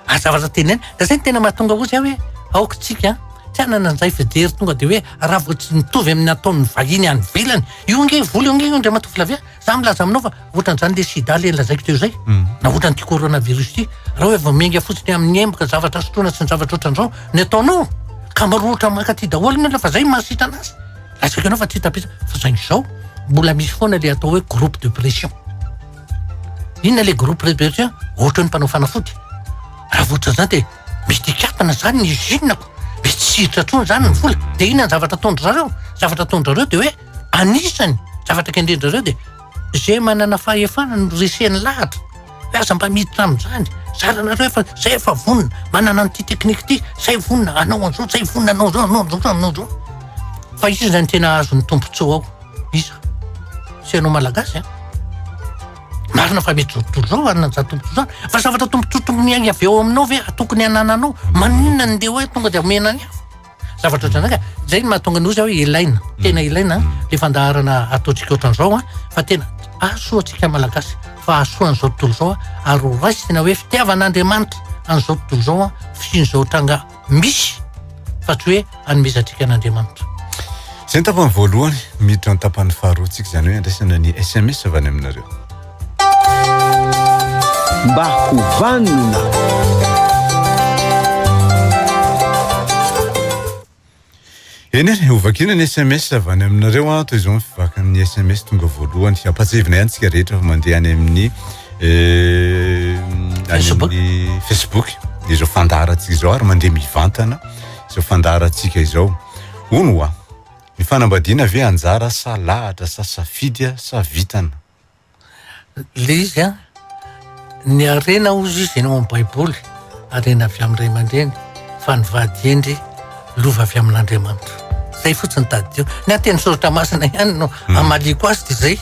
Aza aza tenenina. Dia izay no tena mahatonga hoy izay hoe aoka isika tsy hanana an'izay fijery tonga dia hoe raha vao tsy mitovy amin'ny ataon'ny vahiny any ivelany. Io ange vola io ange io Andriamatoa Flavien. Za milaza aminao fa ohatran'izany le sida le lazaiko teo izay. Hmm. Na ohatran'ity coronavirus ity. Raha hoe vao miainga fotsiny amin'ny emboka zavatra sotroina sy ny zavatra ohatran'izao ny ataonao ka maro ohatra mankaty daholo ny olona fa zay mahasitrana azy. Lazaiko ianao fa tsy tapitra fa saingy izao mbola misy foana le atao hoe groupe de pression. Inona ilay groupe Répercussions? Ohatran'ny mpanao fanafody. Raha vao ohatran'izany dia misy dikakana izany ny usine-ko. Misy tsy hiditra intsony izany ny vola. Dia inona ny zavatra ataon-dry zareo? Ny zavatra ataon-dry zareo dia hoe anisany zavatra kendren-dry zareo dia izay manana fahefana no reseny lahatra. Hoe aza mba miditra amin'izany. Zaranareo efa, izay efa vonona, manana an'ity teknika ity, izay vonona hanao an'izao, izay vonona hanao izao, hanao an'izao, hanao an'izao. Fa iza no tena hahazo ny tombontsoa ao? Iza? Tsy ianao Malagasy an? Marina fa mety tombotsoa zao hanana tombotsoa zany fa zavatra tombotsoa tokony avy eo aminao ve tokony hanananao? Maninona ny ndeha hoe tonga dia omena ny hafa? Zavatra ohatran'izany ka zay no mahatonga ny ozy hoe ilaina, tena ilaina le fandaharana ataontsika ohatran'izao an fa tena hahasoa antsika Malagasy fa hahasoa an'izao tontolo izao ary ho raisina hoe fitiavan'Andriamanitra an'izao tontolo izao an fisian'izao tranga misy fa tsy hoe anomezantsika an'Andriamanitra. Izay ny tapany voalohany, miditra ny tapany faharoa tsika izany hoe andraisana ny SMS avy any aminareo. Mba ho vanona. Eny e, hovakina ny sms avy any aminareo an, toy izao ny fivakan'ny sms tonga voalohany. Hampahatsiahivina ihany tsika rehetra fa mandeha any amin'ny eh, any amin'ny Facebook izao fandaharantsika izao ary mandeha mivantana izao fandaharantsika izao. Hono wa, ny fanambadiana ve anjara sa lahatra sa safidy sa vitana? Ilay izy an, ny harena hozy izy eny ao amin'ny baiboly, harena avy amin'ny ray aman-dreny, fa ny vady hendry lova avy amin'Andriamanitra. Zay fotsiny tadidio. Ny ateny soratra masina ihany no hmm. amaliako azy dia zay.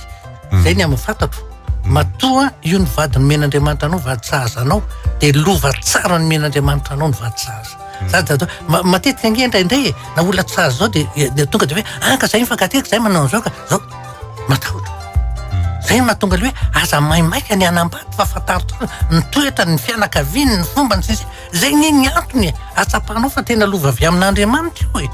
Hmm. Zay ny amin'ny fantatro. Hmm. Matoa io ny vady nomen'Andriamanitra anao, vady sahaza anao, dia lova tsara nomen'Andriamanitra anao ny vady sahaza. Zany tadidio. Matetika nge indraindray e, na olona tsy sahaza zao dia eh, tonga dia hoe, ah ka zay mifankatia, ka zay manao an'izao ka, zao. Matahotra. Zay no mahatonga le hoe aza maimaika ny hanambady fa fantaro tsara ny toetrany, ny fianakaviany, ny fombany sy ny sisa. Zay anie ny antony e. Atsapanao fa tena lova avy amin'Andriamanitra io e.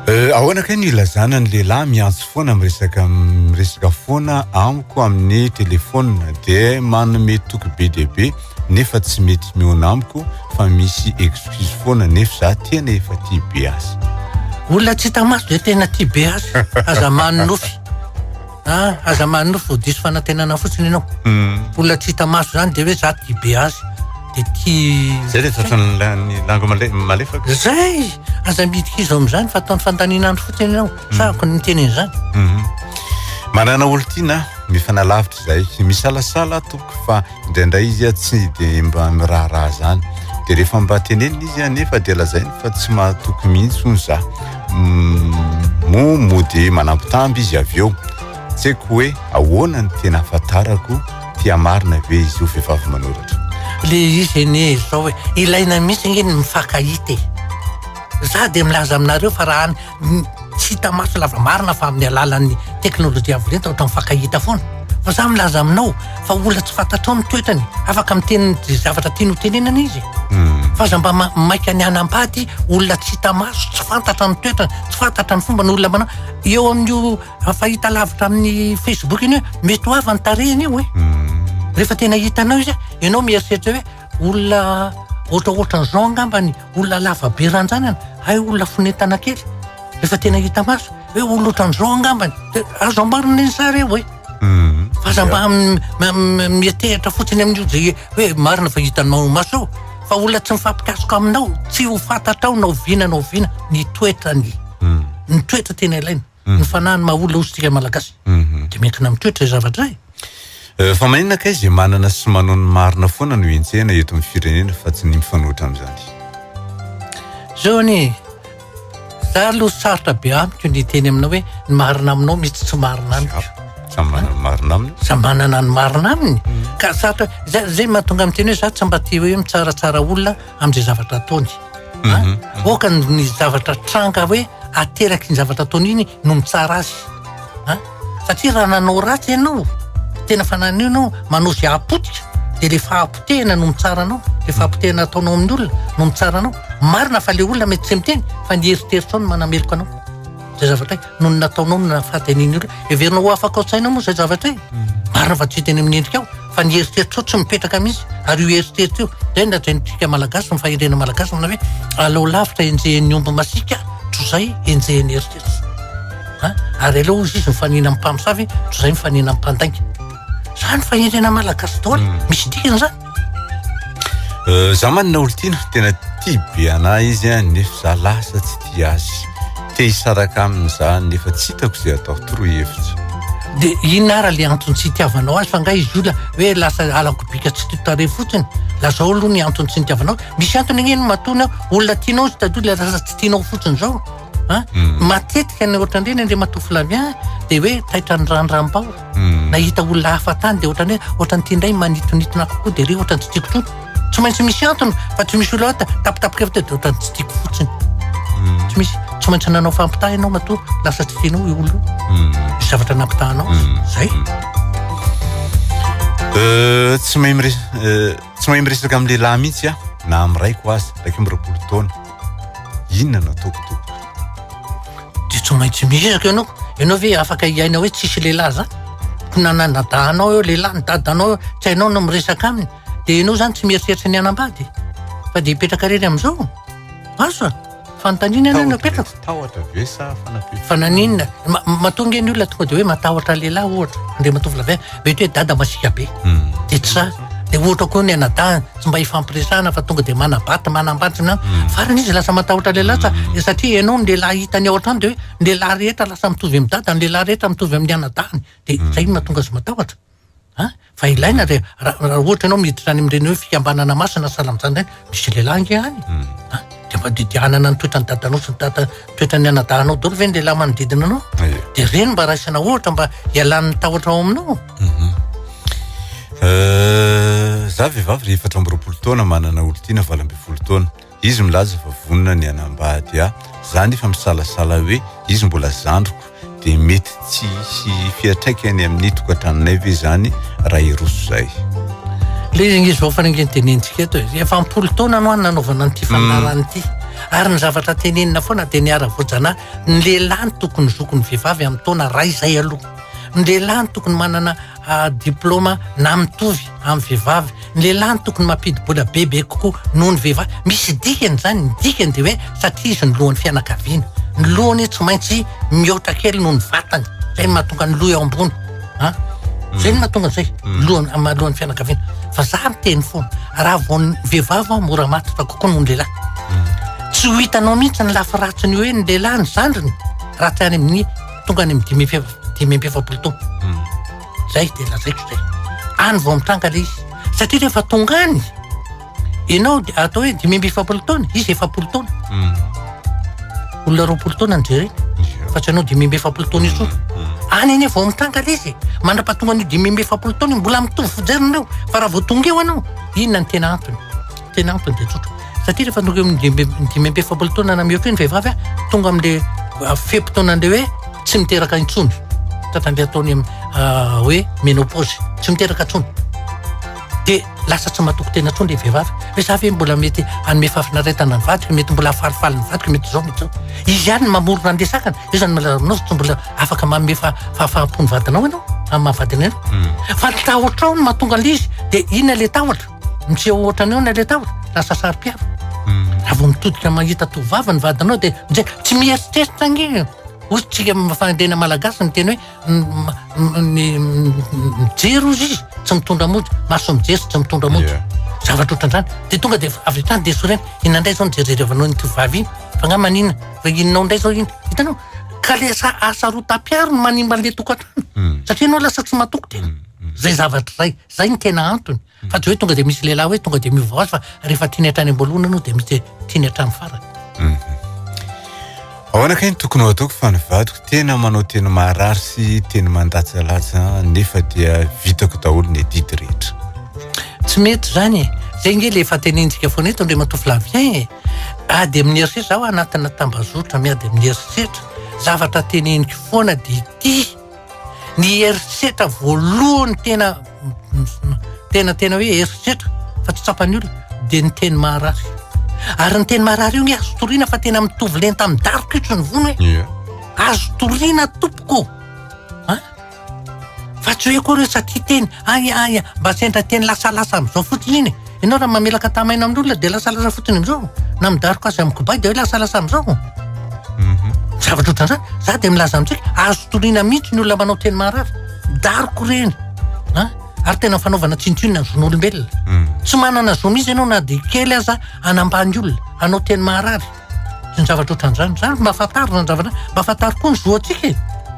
Euh, ahoana kay ny ilazana ny lehilahy miantso foana miresaka miresaka foana amiko amin'ny telefona dia manome toky be dia be nefa tsy mety miona amiko fa misy excuse foana nefa za tena efa tia be azy olona tsy hita maso dia tena tia be azy aza manonofy a ah, aza manonofy vao diso fanantenana fotsiny ianao hmm. olona tsy hita maso zany dia hoe za tia be azy dia tia zay le tratran'ny lango malefaka zay aza midika izy amin'izany fa ataony fandaniana andro fotsiny ianao hmm. sa ako ny teny an'izany hmm. manana olon-tiana mifanalavitra izay misalasala tompoko fa Indraindray izy tsy dia mba miraharaha izany. Dia rehefa mba tenenina izy anefa dia lazainy fa tsy mahatoky mihitsy hono za. Mm, moa mody manambitamby izy avy eo. Tsy haiko hoe ahoana ny tena ahafantarako tia marina ve izy io vehivavy manoratra. Le izy anie izao e, ilaina mihitsy ange ny mifankahita e. Za dia milaza aminareo fa raha any Tsy hita maso lava marina fa amin'ny alalan'ny teknolojia avo lenta ohatran'ny fankahita foana. Fa izaho milaza aminao fa olona tsy fantatrao ny toetrany, afaka miteny izay zavatra tiany hotenenana izy. Fa aza mba maika ny hanambady olona tsy hita maso, tsy fantatra ny toetrany, tsy fantatra ny fombany, olona manao eo amin'io fahitalavitra amin'ny Facebook iny hoe mety ho avy ny tarehiny io e! Rehefa tena hitanao izy, ianao mieritreritra hoe. olona ohatraohatran'izao angambany, olona lava be ranjanana, hay olona fonentana kely, rehefa tena hita maso, hoe olona ohatran'izao angambany, dia azo amboarina iny sary iny hoe. Mhm. Aza mba mietehatra fotsiny amin'io dia hoe marina fa hitanao maso eo, fa olona tsy mifampikasoka aminao, tsy ho fantatrao na oviana na oviana ny toetrany. Mhm. Ny toetra tena ilaina. Ny mhm. fanahy no maha olona osintsika malagasy. Mhm. Dia miankina amin'ny toetra izay zavatra izay. Eh, fa maninona akay izay manana sy manao ny marina foana no hentsehana eto amin'ny firenena fa tsy ny mifanohitra amin'izany. Zao anie, za aloha sarotra be amiko ny teny aminao hoe ny marina aminao misy tsy marina amiko. Samy manana ny marina aminy. Samy manana ny marina aminy. Mhm. Ka sarotra, zay mahatonga amin'ny teny hoe za tsy mba tia hoe mitsaratsara olona amin'izay zavatra ataony a mhm, mhm. oka ny zavatra tranga hoe ateraky ny zavatra ataony iny no mitsara azy a satria raha nanao ratsy ianao tena fananio nao manao zay apotika de le fahapotehana no mitsara anao le fahapotehana ataonao amin'ny olona no mitsara anao marina fa le olona mety tsy miteny fa ny heritreritrao no manameloka anao zay zavatra noho ny nataonao no naha faty an'iny olona. Heverinao ho afaka ao an-tsainao moa izay zavatra izay? Marina fa tsy hita eny amin'ny endrikao, fa ny eritreritro tsy mipetraka mihitsy. Ary io eritreritro io, izay no lazaintsika Malagasy, ny fahendrena Malagasy manao hoe, aleo lavitra enjehin'ny omby masiaka, toy izay enjehin'ny eritreritro. Ha? Ary aleo hozy izy mifanena amin'ny mpamosavy, toy izay mifanena amin'ny mpandainga. Izany fahendrena Malagasy daholo, misy dikany izany. Euh, za manina olontiana tena tia be anah izy a nefa za lasa tsy tia azy te hisaraka aminy za nefa tsy hitako izay atao toroy hevitra de inona ara le antony tsy hitiavanao azy fa nga izy olona hoe lasa alako bika tsy totare fotsiny lazao aloha ny antony tsy nitiavanao misy antony agneny matony aho olona tianao izy tatoy le lasa tsy tianao fotsiny zao a hmm. matetika ny ohatrany reny andre matoa filavia dia hoe taitra ny randram-bao hmm. na hita olona hafa tany dia ohatrany hoe ohatrany ity indray manitonitona kokoa dia re ohatrany tsy tiako tsotra tsy maintsy misy antony fa tsy misy olota tapitapika fta dia ohatrany tsy tiako fotsiny hmm. tsy misy tsy maintsy nanao fampitaha ianao matoa lasa tsy tianao i olo misy zavatra nampitahanao zay euh, tsy mahay miresaka euh, tsy mahay miresaka amin'ny lehilahy mihitsy a na am'raiko azy raiky am'roapolo taona Inona no ataoko tompoko? Dia tsy maintsy miezaka ianao. Ianao ve afaka hiaina hoe tsisy lehilahy zany? Ko nananadahanao eo lehilahy ny dadanao eo, tsy hainao no miresaka aminy. Dia ianao zany tsy mieritreritra ny hanambady fa dia hipetraka irery amin'izao? Aso a! Fanontaniana ianao no apetrako. Tahotra ve sa fanafihana? Fa naninona? Matoa ange ny olona tonga dia hoe matahotra lehilahy ohatra, Andriamatoa Flavien. Mety hoe dada masiaka be, dia tsy za. Dia ohatra koa ny anadahy, tsy mba hifampiresahana fa tonga dia manabaty, manambadina. Hmm. Farany izy lasa matahotra lehilahy sa hmm. satria ianao ny lehilahy hitany ao an-trano dia hoe ny lehilahy rehetra lasa mitovy amin'ny dada, ny lehilahy rehetra mitovy amin'ny anadahiny. Dia hmm. izay no mahatonga azy matahotra. Fa ilaina re, raha ohatra ianao miditra any amin'ireny hoe fikambanana masina sahala amin'izany ireny, Misy lehilahy ange any a, dia mba didianana ny toetran'ny dadanao sy ny dada toetran'ny anadahinao daholo ve ny lehilahy manodidina anao? Ie. Dia ireny mba raisana ohatra mba hialan'ny tahotra ao aminao. Euh, za vehivavy re efatra amby roapolo taona manana olon-tiana valo ambin'ny folo taona izy milaza fa vonona ny hanambady ahy za nefa misalasala hoe izy mbola zandriko Dia mety tsy hisy fiatraikany amin'ny tokantranonay ve izany raha hiroso izay? Ilay ange izao farange notenenintsika eto e, efa am-polo taona no nanaovana an'ity fandaharana mm. ity. Ary ny zavatra tenenina foana dia ny ara-voajanahy, ny lehilahy no tokony zoko ny vehivavy amin'ny taona iray izay aloha. Ny lehilahy no tokony manana ah, diplaoma na mitovy. amin'ny vehivavy, ny lehilahy no tokony mampidi-bola bebe kokoa noho ny vehivavy, misy dikany izany, ny dikany dia hoe satria izy no lohan'ny fianakaviana, ny lohany tsy maintsy mihoatra kely noho ny vatany, izay no mahatonga ny loha eo ambony an, izay no mahatonga izay, lohany amin'ny maha lohan'ny fianakaviana, fa za miteny foana, raha vao ny vehivavy an mora matotra kokoa noho ny lehilahy, tsy ho hitanao mihintsy ny lafy ratsiny hoe ny lehilahy ny zandriny raha tsy any amin'ny tonga any amin'ny dimy amby efa-dimy amby efapolo taona. Zay dia lazaiko zay. Any vao mitranga ilay izy. Satria rehefa tonga any, ianao dia atao hoe dimy amby efapolo taona, izy efapolo taona. Hmm. Olona roapolo taona ny jerena. Fa tsy anao dimy amby efapolo taona izy hmm. hmm. Any anie vao mitranga ilay izy. Mandra-pahatonga an'io dimy amby efapolo taona mbola mitovy fijeriny eo. Fa raha vao tonga eo anao, inona ny tena antony? Tena antony dia tsotra. Satria rehefa tonga eo amin'ny dimy dimy amby efapolo taona na mihoatra eo ny vehivavy a, tonga amin'ilay ah, fe-potoanan'ilay hoe tsy miteraka intsony. Tatan'ilay ataony am- ah, hoe menopause, tsy miteraka intsony. Dia lasa tsy matoky tena intsony ilay vehivavy. Hoe za ve mbola mety hanome fahafinaretana ny vadiko, mety mbola hahafalifaly ny vadiko, mety izao, mety izao. Izy ihany no mamorona an'ilay sakana. Io izany malaza aminao, tsy mbola afaka manome fa- fahafaham-po ny vadinao ianao, amin'ny maha vadinao ianao. Fa ny tahotrao no mahatonga an'ilay izy, dia inona ilay tahotra? Miseho ohatran'ny ahoana ilay tahotra? Lasa saro-piaro. Raha vao mitodika mahita tovovavy ny vadinao dia mijery tsy mieritreritra ange. Hoy isika amin'ny fahendrena malagasy ny teny hoe ny mijery hozy izy tsy mitondra mody, maso mijery sy tsy mitondra mody. Yeah. Zavatra ohatran'izany. Dia tonga dia avy hatrany dia sorena. Inona indray izao ny jerijerevanao iny tovovavy iny? Fa nga manina? Fa inonao indray izao iny? Hitanao? Ka le asa asa roa tapiaro no manimba an'ilay tokantrano. Hmm. Satria ianao lasa tsy matoky tena. Hmm. Hmm. Zay zavatra izay. Zay no tena antony fa tsy hoe tonga dia misy lehilahy hoe tonga dia miova vaozy fa rehefa tiany hatrany am-boalohany aloha dia misy tiany hatramin'ny farany. Mhm. Ahoana kay ny tokony ho ataoko fa ny vadiko tena manao teny maharary sy teny mandatsalatsa nefa dia vitako daholo ny adidy rehetra. Tsy mety zany e. Zay nge le efa tenentsika foana eto Andriamatoa Flavien e. Ady amin'ny herisetra zaho anatina tambazotra miady amin'ny herisetra. Zavatra teneniko foana dia ity. Ny herisetra voalohany tena tena tena hoe herisetra fa tsy tsapan'ny olona dia ny teny marary. Ary ny teny marary io ny azo toriana fa tena mitovy lenta amin'ny dariko itry ny vono hoe azo toriana tompoko. Ah? Fa tsy hoe koa satria teny, ay ay, mba sendra teny lasalasa amin'izao fotsiny iny. Ianao raha mamelaka tama aina amin'olona dia lasalasa fotsiny amin'izao. Na midaroka azy amin'ny kobay dia hoe lasalasa amin'izao. Mhm. Zavatra ohatran'izany. Za dia milaza amintsika, azo toriana mihitsy ny olona manao teny maharary. Midaroka ireny. Ha? Ary tena fanaovana tsinontsinona ny zon'olombelona. Mhm. Tsy manana zo mihitsy ianao na dia kely aza hanambany olona, hanao teny maharary. Tsy ny zavatra ohatran'izany. Za mba fantaro zany zavatra, mba fantaro koa ny zoantsika e.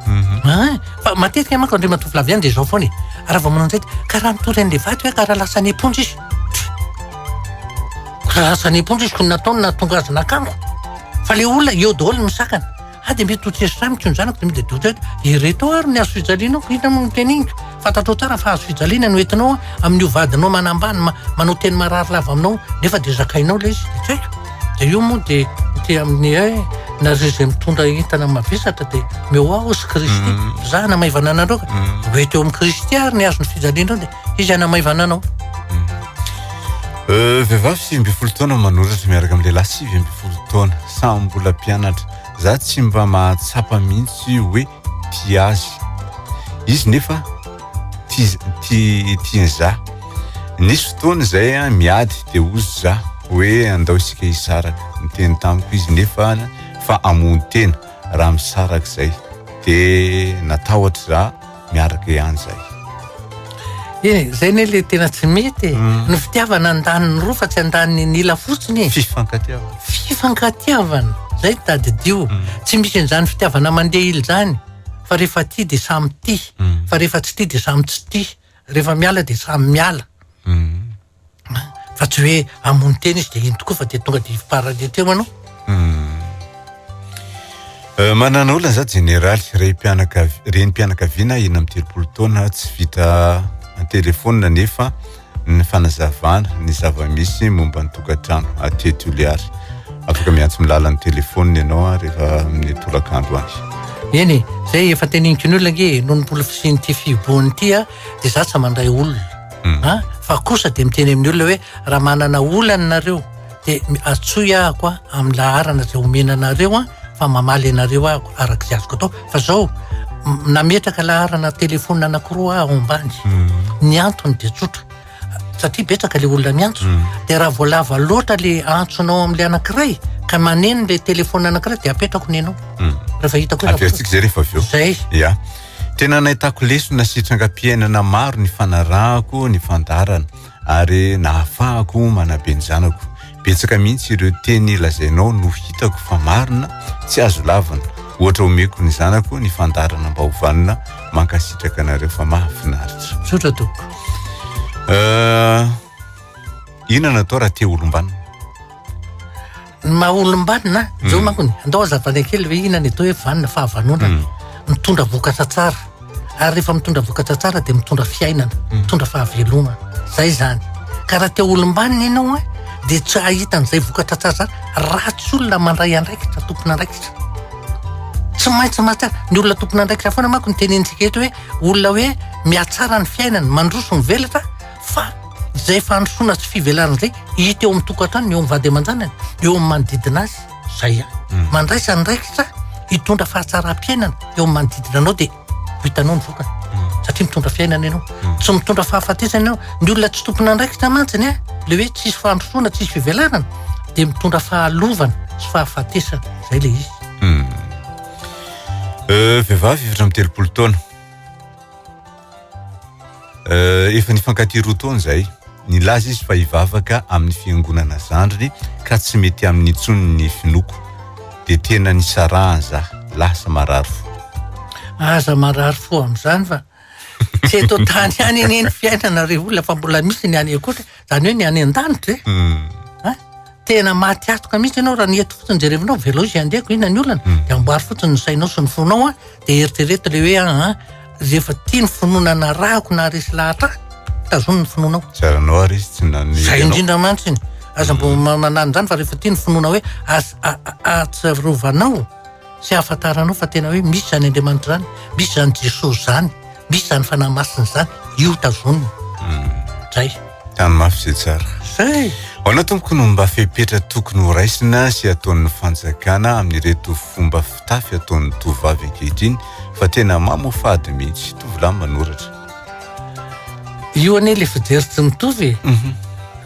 Mhm. Hein? Fa matetika manko andriamatoa Flavien dia izao foana e. Raha vao manao an'izay dia karaha mitory an'ilay vato hoe karaha lasa any am-ponja izy. Karaha lasa any am-ponja izy koa ny nataony nahatonga azy nakamiko. Fa ilay olona eo daholo ny misakana. Ah dia mety ho tsy esotra amiko ny zanako dia mety dia doute hoe ireto ary ny hazo fijalianao fa inona moa no teneninka? Fantatrao tsara fa hazo fijaliana no entinao amin'ny ho vadinao manambany ma- manao teny marary lava aminao nefa dia zakainao ilay izy dia tsy haiko. Dia io moa dia ity amin'ny hoe nareo izay mitondra entana mavesatra dia mihoahoa sy Kristy. Zahana maivana anareo ka. Ho ety eo amin'i Kristy ary ny hazo ny fijalianao dia Izy hanamaivana anao. Euh, vehivavy sivy ambin'ny folo taona manoratra miaraka amin'ny lehilahy sivy ambin'ny folo taona samy mbola mpianatra za tsy mba mahatsapa mihitsy hoe ti azy izy nefa tiany za nisy fotoana izay a miady de ozy za hoe andao isika hisaraka miteny tamiko izy nefa fa amony tena raha misaraka izay de natahotra za miaraka ihany zay eh, zay ne le tena tsy mety e. mm. ny fitiavana andaniny roa fa tsy andaniny nila fotsiny e. fifankatiavana fifankatiavana zay tadidio mm. tsy misy an'izany fitiavana mandeha ily zany fa rehefa ty de samy ty mm. fa rehefa tsy ty de samy tsy ty rehefa miala de samy miala fa tsy hoe hamono tena izy dia iny tokoa fa dia tonga dia farany ety eo anao hmm. euh, manana olona za jeneraly reny mpianakaviana ina amin'ny telopolo taona tsy vita antelefona nefa ny fanazavana ny zava-misy momba ny tokantrano atety oliary afaka miantso milalan'ny telefona ianao a rehefa amin'ny tolakandro any eny e zay efa teniniko ny olona nge noho ny mbola fisian'ity fihibohany ity a dia za tsy mandray olona mm. ah, fa kosa dia miteny amin'ny olona hoe raha manana olana nareo dia atsoy ahako a amin'ny laharana izay omena anareo a fa mamaly anareo ahako araka izay azoko atao fa zao nametraka laharana telefona anakiroa aho ambany mm. ny antony dia tsotra satria betsaka le olona miantso mm. dia raha voalava loatra le antsonao amin'la anakiray ka maneno le telefona anakiray dia apetrako ny anao rehefa hitako zay rehefa avy eo zay Tena nahitako lesona sy trangam-piainana maro ny fanarahako ny fandaharana ary nahafahako manabe ny zanako. Betsaka mihitsy ireo teny lazainao no hitako fa marina, tsy azo lavina. Ohatra omeko ny zanako ny fandaharana mba hovanona. Mankasitraka anareo fa mahafinaritra. Misaotra tompoko. Euh, Inona no atao raha te olombanona? Ny maha olombanona, zao hmm. manko ny andao azavana kely hoe inona ny atao hoe vanona, fahavanonana. Hmm. Mitondra vokatra tsara. Ary rehefa mitondra vokatra tsara dia mitondra fiainana, hmm. mitondra fahavelomana. Zay izany. Ka raha te olombanona ianao eh, dia tsy hahita an'izay vokatra tsara zany raha tsy olona mandray andraikitra, tompon'andraikitra. Tsy maintsy matsy ny olona tompon'andraikitra foana manko ny tenenintsika eto hoe olona hoe mihatsara ny fiainana, mandroso mivelatra fa izay fandrosoana sy fivelarana izay hita eo amin'ny tokantranony, eo amin'ny vady aman-janany, eo amin'ny manodidina azy, izay ihany. Hmm. Mandraisa andraikitra hitondra fahatsaram-piainana eo amin'ny manodidina anao dia ho hitanao ny vokany. Hmm. Satria mitondra fiainana ianao. Hmm. Tsy mitondra fahafatesana ianao. Ny olona tsy tompon'andraikitra mantsiny, eh, le hoe tsisy fandrosoana, tsisy fivelarana, dia mitondra fahalovana sy fahafatesana. Izay le izy. Euh, vehivavy efatra amin'ny telopolo taona. Euh, efa nifankatia roa taona izay. Nilaza izy fa hivavaka amin'ny fiangonana zandriny ka tsy mety amin'ny intsony ny finoako. Dia tena nisarahany zah, lasa marary fo. Aza marary fo amin'izany fa tsy eto an-tany ihany anie ny fiainana ry olona fa mbola misy ny any an-koatra. Zany hoe ny any an-danitra e. Hmm. Ah, tena maty atoka mihitsy ianao raha ny eto fotsiny jerevinao, velao izay andeha ko inona ny olana, hmm. dia amboary fotsiny ny sainao sy ny fonao a, dia eritrereto le hoe ah, ah, rehefa tia ny finoana narahako na resy lahatra tazono ny finoanao. Zaranao ary izy tsy nany. Zay indrindra mantsy iny. Aza mbo hmm. manany izany fa rehefa tia ny finoana hoe atsarovanao Tsy ahafantaranao fa tena hoe misy izany Andriamanitra izany, misy izany Jesosy izany, misy izany Fanahy Masina izany, io tazonina. Hmm. Zay. Tany mafy izay tsara. Zay. Hoanao tompoko no mba fepetra tokony ho raisina sy ataon'ny fanjakana amin'ireto fomba fitafy ataon'ny tovovavy ankehitriny fa tena mamo fady mihitsy tovolahy manoratra. Io anie le fijery tsy mitovy e. Mhm.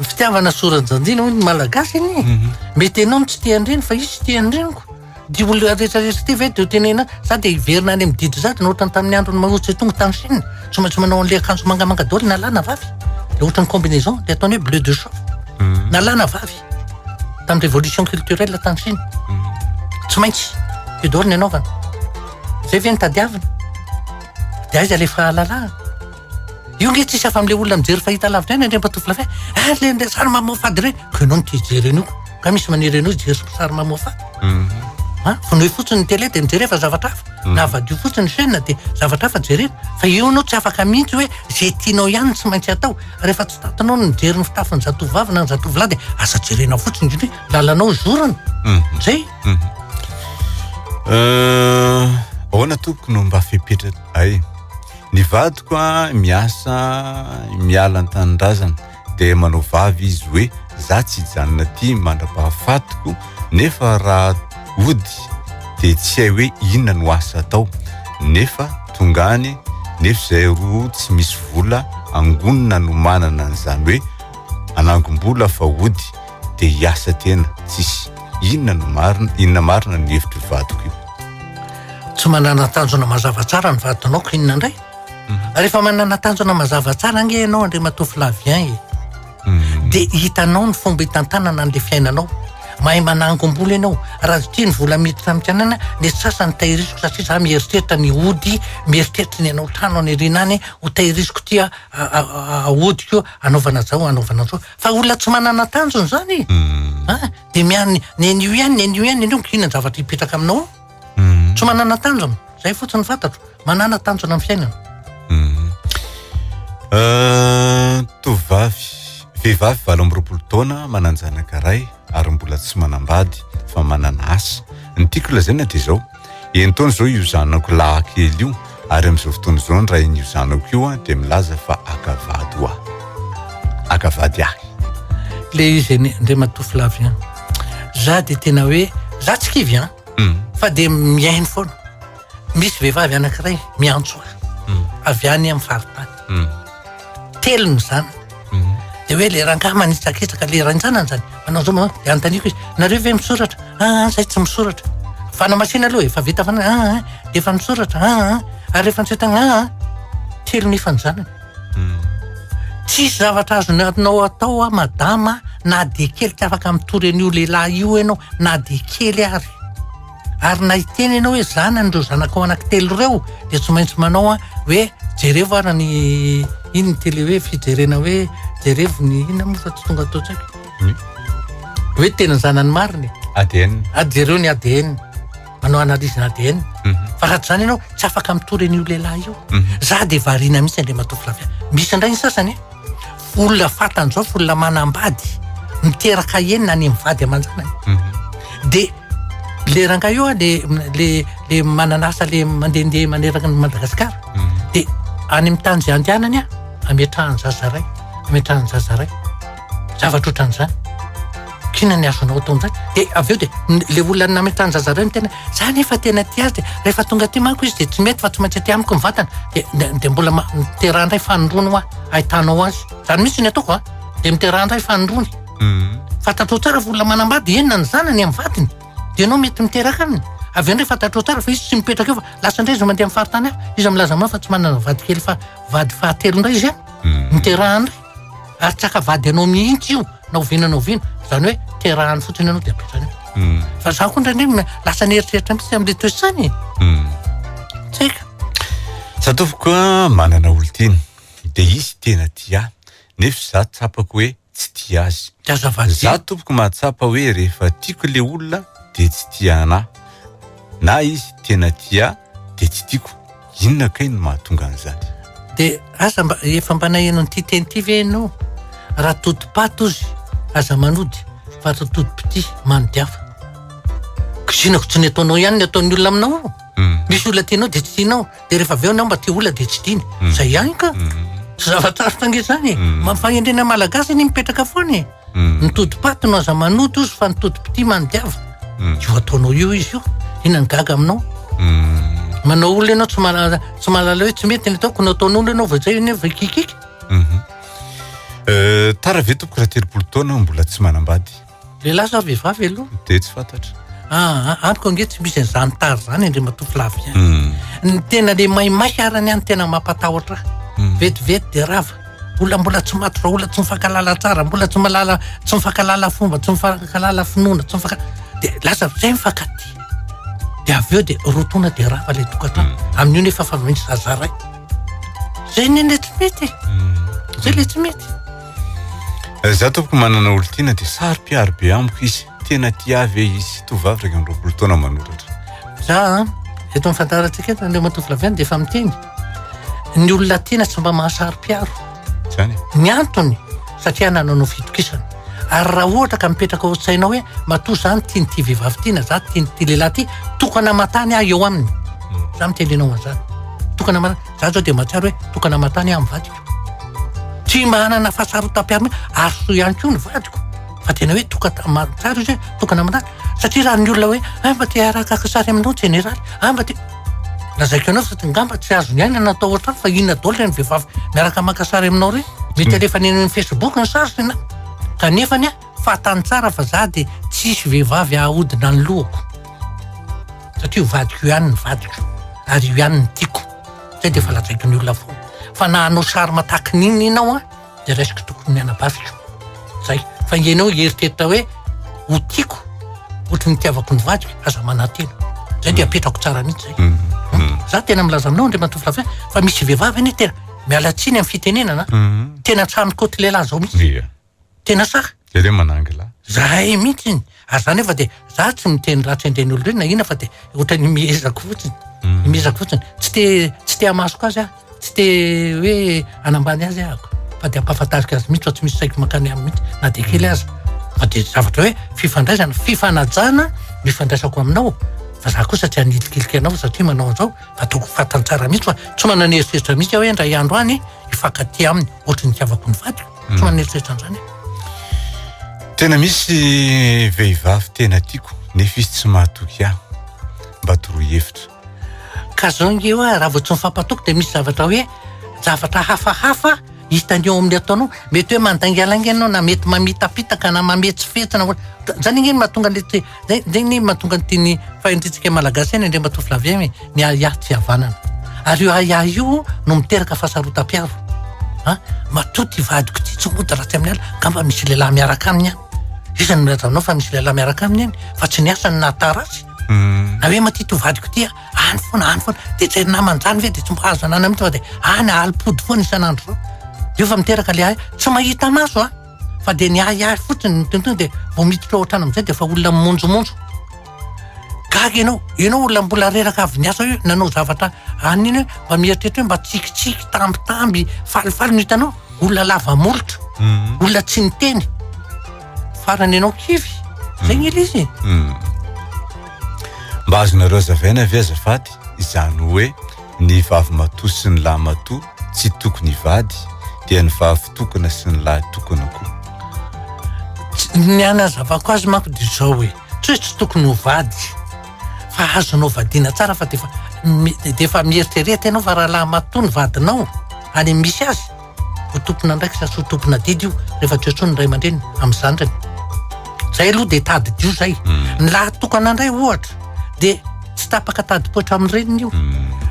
Fitiavana soran-jandina hoy ny malagasy anie. Mhm. Mety ianao no tsy tian'ny reny fa izy tsy tian'ny reniko. Ity olona rehetra rehetra ity ve dia tenena sa dia hiverina any amin'ny didy sady no ohatran'ny tamin'ny andron'i Mao Tse Tung tany Chine? Tsy maintsy manao an'ilay akanjo mangamanga daholo na lahy na vavy. Dia ohatran'ny combinaison dia ataony hoe bleu de chauffe. Hmm. Na lahy na vavy. Tamin'ny révolution culturelle tany Chine. Hmm. Tsy maintsy. Io daholo ny anaovana. Izay ve ny tadiavina? Dia aiza ilay fahalalahana? Io nge tsisy hafa amle olona mijery fahita lavitra eny Andriamatoa Flavien ah le le sary mamoafady reny ko enao no tihijery an'io ko ka misy maniry anao hijery sary mamoafady mhm. ah, vonoy fotsiny ny tele de mijery efa zavatra hafa mhm. na vadio fotsiny chaîne de zavatra hafa jerena fa io anao tsy afaka mihitsy hoe ze tianao ihany no tsy maintsy atao rehefa tsy tatinao no mijery ny fitafiny zatovovavy na ny zatovolahy de aza jerenao fotsiny indrindra hoe lalanao zorony mhm. zay euh, ahoana tompoko no mba fepetra ay Ny vadiko an miasa miala an-tanindrazana dia manao vavy izy hoe za tsy hijanona aty mandra-pahafatiko nefa raha hody dia tsy hay hoe inona no asa atao nefa tonga any nefa izay roa tsy misy vola angonina no manana an'izany hoe anangom-bola fa hody dia hiasa tena tsisy inona no marina inona marina ny hevitry vadiko io tsy manana tanjona mazava tsara ny vadinao ko inona indray mhm. rehefa manana tanjona mazava tsara ange ianao andre matofy lavien e mhm. dia hitanao ny fomba hitantanana an'le fiainanao mahay manangombola ianao raha zotia ny vola miditra aminkanana le sasany tahirisiko satria za mieritreritra ny ody mieritreritra ny anao trano any irina any ho tahirisiko tia aodiko anaovana zao anaovana zao Fa olona tsy manana tanjona zany e. An, dia miany nenio ihany, nenio ihany, nenio, inona ny zavatra hipetraka aminao ao? Tsy manana tanjona. Zay fotsiny fantatro. Manana tanjona amin'ny fiainana. Tovovavy, vehivavy valo amby roapolo taona manan-janaka iray. ary mbola tsy manambady fa manana asa. Ny tiako lazaina dia izao, enitaona izao io zanako lahy kely io ary amin'izao fotoana izao ny rain'io zanako io dia milaza fa haka vady ho ahy. Haka vady ahy. Ilay izy anie, Andriamatoa Flavien, za dia tena hoe, za tsy kivy an, hmm. fa dia mihaino foana. Misy vehivavy anankiray miantso ahy, hmm. avy any amin'ny faritany. Hmm. telony zany mhm. de hoe le rangah manitsakitsaka le rantsanany zany manao zao manao de antaniko izy nareo ve misoratra aa ah, ah, zay tsy misoratra fana masina aloha efa vita fana aa ah, de efa misoratra aa ary efa nsetagna aa telony efa ny zanany mhm. tsisy zavatra azonatinao atao a madama na de kely tsy afaka mitory an'io lehilahy io ianao na de kely ary Ary na hiteny ianao hoe zanan'ireo zanakao anankitelo ireo dia tsy maintsy manao a hoe jerevo ara ny iny ny tele hoe fijerena hoe jerevo ny ina moa fa tsy tonga ato tsaiko hmm. hoe tena zanany marina ADN a jereo ny ADN manao analyse ADN mhm. fa raha tsy zany ianao tsy afaka mitory an'io lehilahy io mhm. za dia variana mihitsy andriamatoa Flavia misy indray ny sasany olona fantany zao fa olona manambady miteraka enina any amin'ny vady aman-janany mhm. dia le ranga io le le le manana asa le mandehandeha maneraka ny Madagasikara mhm. dia any amin'ny tany izay andehanany a ametrahany zazaray ametrahany zazaray zavatra ohatran'izany Kina ny azonao atao amin'izany. Dia avy eo dia ilay olona nametrahany zaza iray ny tena, za nefa tena tia azy dia rehefa tonga aty manko izy dia tsy mety fa tsy maintsy aty amiko ny vatana. Dia dia mbola ma- miteraha indray fanindroany hoa ahitanao azy. Izany mihitsy ny ataoko a. Dia miteraha indray fanindroany. Fantatrao tsara fa olona manambady, eny na ny zanany amin'ny vadiny. Dia ianao mety miteraka aminy. Avy eo indray fantatrao tsara fa izy tsy mipetraka eo fa lasa indray izy mandeha amin'ny faritany hafa. Iza milaza aminao fa tsy manana vadikely fa vady fahatelo indray izy an. Miteraha indray. Ary tsy haka vady anao mihitsy io na oviana na oviana. Izany hoe terahany fotsiny ianao dia apetrany eo. Hmm. Fa za koa indraindray m- lasa nieritreritra mihitsy amin'le toesany e. Hmm. Tsy haiko. Satofoko a, manana olon-tiana. Dia izy tena tia ahy. Nefa za tsapako hoe tsy tia azy. Dia aza vadiana. Za tompoko mahatsapa hoe rehefa tiako le olona dia tsy tia anahy. Na izy tena tia ahy dia tsy tiako. Inona kay no mahatonga an'izany? Dia aza mba, efa mba naheno an'ity teny ity ve ianao? Raha todim-paty ozy, aza manody, fa raha todim-pitia, manody hafa. Kizinako tsy ny ataonao ihany ny ataon'ny olona aminao eo. Mm. Misy olona tianao dia tsy tianao, dia rehefa avy eo anao mba tia olona dia tsy tiany. Mm. Izay ihany ka. Mm. Tsy zava-tsarotra ange izany e. Mm. Fahendrena malagasy anie mipetraka foana e. Mm. Ny todipaty no aza manoto ozy fa ny todipitia manodiavina. Mm. Io ataonao io izy io. Inona ny gaga aminao? Mm. Manao olona ianao tsy malala tsy malala hoe tsy mety ny ataoko no ataon'olona ianao vao zay nefa kikika. Mhm. Euh, tara ve tompoko raha telopolo taona aho mbola tsy manambady? Lehilahy sa vehivavy aloha? Dia tsy fantatra. Ah, ah, amiko ange tsy misy an'izany tara izany Andriamatoa Flavien. Mm. Ny tena le maimaika arany ihany tena mampatahotra ahy. Mm. Vetivety dia rava. Mbola mbola tsy maty vahola tsy mifankalala tsara mbola tsy malala tsy mifankalala fomba tsy mifankalala finoana tsy mifanka de lasa zay mifankaty de avy eo de rotona de rava le tokantrano mm. amin'io nefa fa misy zaza ray zay ne le tsy mety mm. zay le tsy mety eh, za tompoko manana olo tiana de saro piaro be amiko izy tena tia ve izy tovavy iraika amby roapolo taona manoratra za eto amin'ny fandaharantsika eto an'ilay matoa flaviana dia efa miteny ny olona tiana tsy mba mahasaro-piaro zany ny antony satria nananao fitokisana ary raha ohatra ka mipetraka ao tsainao hoe matoa zany tiany tia vehivavy tiana za tiany tia lehilahy ty tokana matany aho eo aminy hmm. za mitenenao an'izany tokana matany za zao dia mahatsiaro hoe tokana matany aho mivadiko tsy mba hanana fahasarotam-piaro ary soa ihany koa ny vadiko fa tena hoe toka tsara izy hoe tokana aminà satria raha ny olona hoe hay mba te harakaka sary aminao jeneraly hay mba te lazaiko anao satria ngamba tsy azony aina ny atao ohatrany fa inona daholo ireny vehivavy miaraka maka sary aminao ireny mety hmm. alefa any amin'ny facebook ny sary tena kanefa ny a fahatany tsara fa za dia tsisy vehivavy ahahodina ny lohako satria ho vadiko io ihany ny vadiko ary io ihany ny tiako zay dia efa lazaiko ny olona foana fa na hanao sary mataky n'inona ianao a dia raisiko tokony ny anabaviko. Zay. Fa ianao hieritreritra hoe ho tiako ohatry ny itiavako ny vadiko, aza manantena. Zay dia apetrako tsara mihitsy zay. Mm, mm. Za tena milaza aminao Andriamatoa Flavien fa misy vehivavy anie tena miala tsiny amin'ny fitenenana. Mm. Tena trano côte lehilahy zao mihitsy. Tena saha. Jereo manangy lahy. Zahay mihitsiny, ary za nefa dia za tsy miteny ratsy an'ireny olona ireny na inona fa dia ohatran'ny imehezako fotsiny, hmm. imehezako fotsiny. Tsy te tsy te hamasoka azy aho, tsy te hoe anambany azy aho fa dia ampahafantariko azy mihitsy fa tsy misy saiko mankany aminy mihitsy na dia kely aza. Fa dia zavatra hoe fifandraisana, fifanajana no ifandraisako aminao fa za kosa tsy hanilikilika anao satria manao an'izao fa tokony fantany tsara mihitsy fa tsy manana eritreritra mihitsy aho hoe indray andro any hifankatia aminy ohatry ny tiavako ny vadiko. Tsy manana eritreritra an'izany aho. Tena misy vehivavy tena tiako nefa izy tsy mahatoky ahy. Mba toroy hevitra. Ka zao nge hoe raha vao tsy mifampatoky dia misy zavatra hoe zavatra hafahafa hitany eo amin'ny ataonao. Mety hoe mandaingalainga ianao na mety mamitapitaka na mametsifetsy na zany ange no mahatonga an'ilay Dia dia ny mahatonga an'ity ny fahendrentsika Malagasy ihany Andriamatoa Flavien hoe ny ahiahy tsy havanana. Ary io ahiahy io no miteraka fahasarotam-piaro. Ha? Matoa ty vadiko ty tsy mody raha tsy amin'ny alina, angamba misy lehilahy miaraka aminy any. Iza no milazavinao fa misy lehilahy miaraka aminy any fa tsy ny asany na tara azy. Na hoe maty to vadiko ty any foana any foana dia tsy namany izany ve dia tsy mba azo ananana mihitsy fa dia any alim-pody foana isan'andro. Io fa miteraka le ahiahy tsy mahita maso a! fa dia ny ahiahy fotsiny ny tonton dia vao miditra ao an-trano amin'izay dia efa olona mimonjomonjo gaga ianao ianao olona mbola reraka avy niasa hoe nanao zavatra any iny hoe mba mieritreritra hoe mba tsikitsiky tambitamby falifaly no hitanao olona lava molotra mhm. olona tsy niteny farany ianao kivy zay ny ilay izy mhm. mba azonareo zavaina ve azafady izany hoe ny vavy matoa sy ny lahy matoa tsy tokony hivady dia ny vavitokana sy ny lahy tokana koa ny anazavako azy manko dia izao hoe tsy hoe tsy tokony ho vady fa azonao vadiana tsara fa defa dia efa mieritrereta ianao fa rahalahy matoa ny vadinao any misy azy ho tompona andraikitra sy ho tompona didy io rehefa tsy antsoiny ray aman-dreny amin'ny zandriny zay aloha dia tadidio zay hmm. ny lahy tokana indray ohatra dia tsy tapaka tadipoitra amin'ny reniny io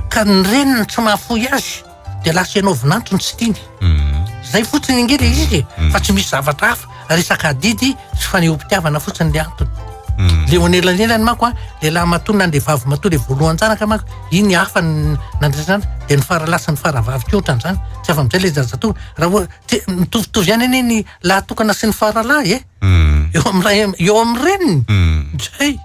ka ny reniny tsy mahafoy azy dia lasa ianao vinanto ny tsy tiany mhm. zay fotsiny ange le izy mhm. fa tsy misy zavatra hafa resaka adidy sy fanehom-pitiavana fotsiny le antony mhm. le onelanelany mako a le lahy matoa na le vavy matoa le voalohanjanaka mako iny hafa nandrasana dia ny faralasa ny faravavy ko ohatran'izany tsy afa amizay le zazatoa raha oa mitovitovy ihany anie ny lahy tokana sy ny faralahy e eo am'ray eo am'reniny zay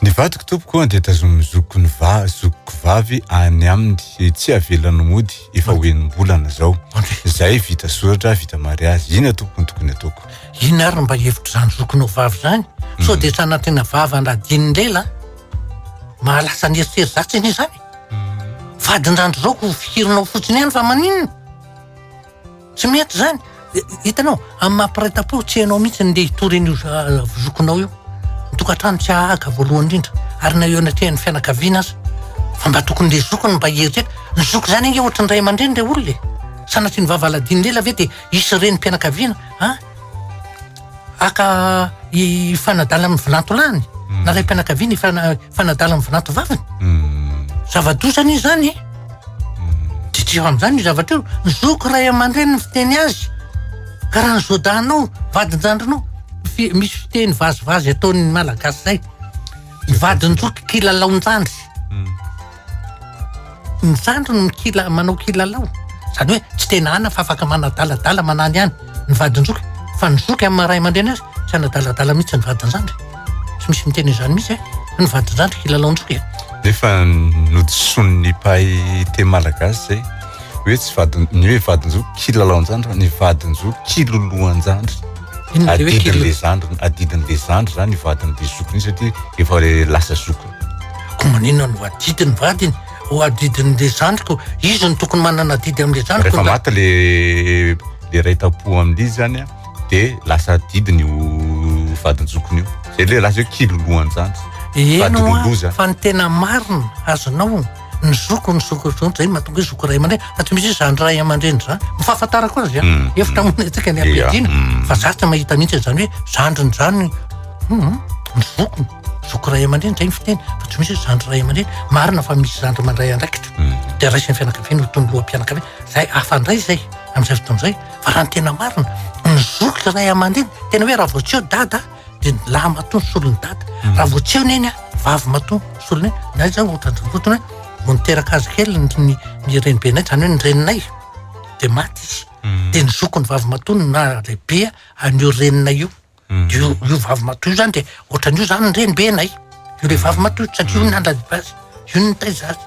Ny vadiko tompoko dia tazonin'ny zokiko ny va zokiko vavy any aminy tsy avelany mody efa ho enim-bolana zao zay vita soratra vita mariazy ina tompoko ny tokony ataoko ina ary mba hevitra zany zokinao vavy zany so hmm. dia tsy anatena vava andadin'ny lela mahalasa ny eritreri zatsy anie zany hmm. vadindrandro zao ko fikirinao fotsiny ihany fa maninona Tsy mety izany. Hitanao, amin'ny maha mpiray tampo, tsy ianao mihitsy ndeha hitory an'io zokinao io. Ny tokantrano tsy hahaka voalohany indrindra, ary na eo anatrehan'ny fianakaviana aza. Fa mba tokony ilay zoky no mba hieritreritra. Ny zoky izany ange ohatry ny ray aman-dreny ilay olona e! Sanatria ny vava aladinon'ela ve dia hisy renim-pianakaviana an! Haka hifanadala amin'ny vinanto lahiny na raim-pianakaviana hifanadala amin'ny vinanto vaviny. Zava-doza anie izany e! Didio amin'izany io zavatra io. Ny zoky ray aman-dreniny fiteny azy. Ka raha ny zodanao, vadin-jandrinao, misy fiteny vazivazy ataon'ny Malagasy izay, ny vadin-joky kilalaon-jandry. Ny zandriny no kila, manao kilalao. Izany hoe tsy tena ana fa afaka manadaladala manana ihany ny vadin-joky. Fa ny zoky amin'ny maha ray aman-dreny azy, tsy hanadaladala mihitsy ny vadin-jandry. Tsy misy miteny izany mihitsy e! Fa ny vadin-jandry kilalaon-joky e! Nefa nodisoan'ny mpahay teny malagasy izay hoe tsy vadin, ny hoe vadin-joky kilalaon-jandry fa ny vadin-joky kiloloan-jandry. Inona izay hoe kilolo? Adidin'ilay zandriny, adidin'ilay zandry izany ny vadin'ilay zokiny iny satria efa lasa zokiny. Ko maninona no adidy ny vadiny? Ho adidin'le zandriko, izy no tokony manana adidy amle zandriko. Rehefa maty le le ray tampo amle izy zany a, de lasa adidiny io vadin-jokiny io. Zay le lasa hoe kilolohan-jandry. Eno a, fa ny tena marina azonao, ny zoko ny zoko zao zay mahatonga hoe zoko ray aman-dreny, fa tsy misy hoe zandry ray aman-dreny zany. Ny fahafantarako azy a, mm. efa tamin'ny antsika ny ampiadiana, mm. fa za tsy mahita mihitsy zany hoe zandriny zany, um, ny zokiny. zoky ray aman-dreny zay ny fiteny fa tsy misy hoe zandry ray aman-dreny marina fa misy zandry mandray andraikitra mm. dia raisin'ny fianakaviana ho tomboloham-pianakaviana zay afandray zay amin'izay fotoana izay fa raha ny tena marina ny zoky ray aman-dreny tena hoe raha voatseo dada dia ny lahy matoa ny solon'ny dada mm. raha voatseo neny a vavy matoa soloneny na zay ohatrandrapotona vo niteraka azy kely ny renibenay zany hoe ny reninay dia maty izy mm. dia ny zoky ny vavy matoa na lehibea an'io reninay io Io io vavy matoa io zany de ohatrany io zany ny renibenay. Io le vavy matoa io satria io no nandradiba azy, io no nitaiza azy.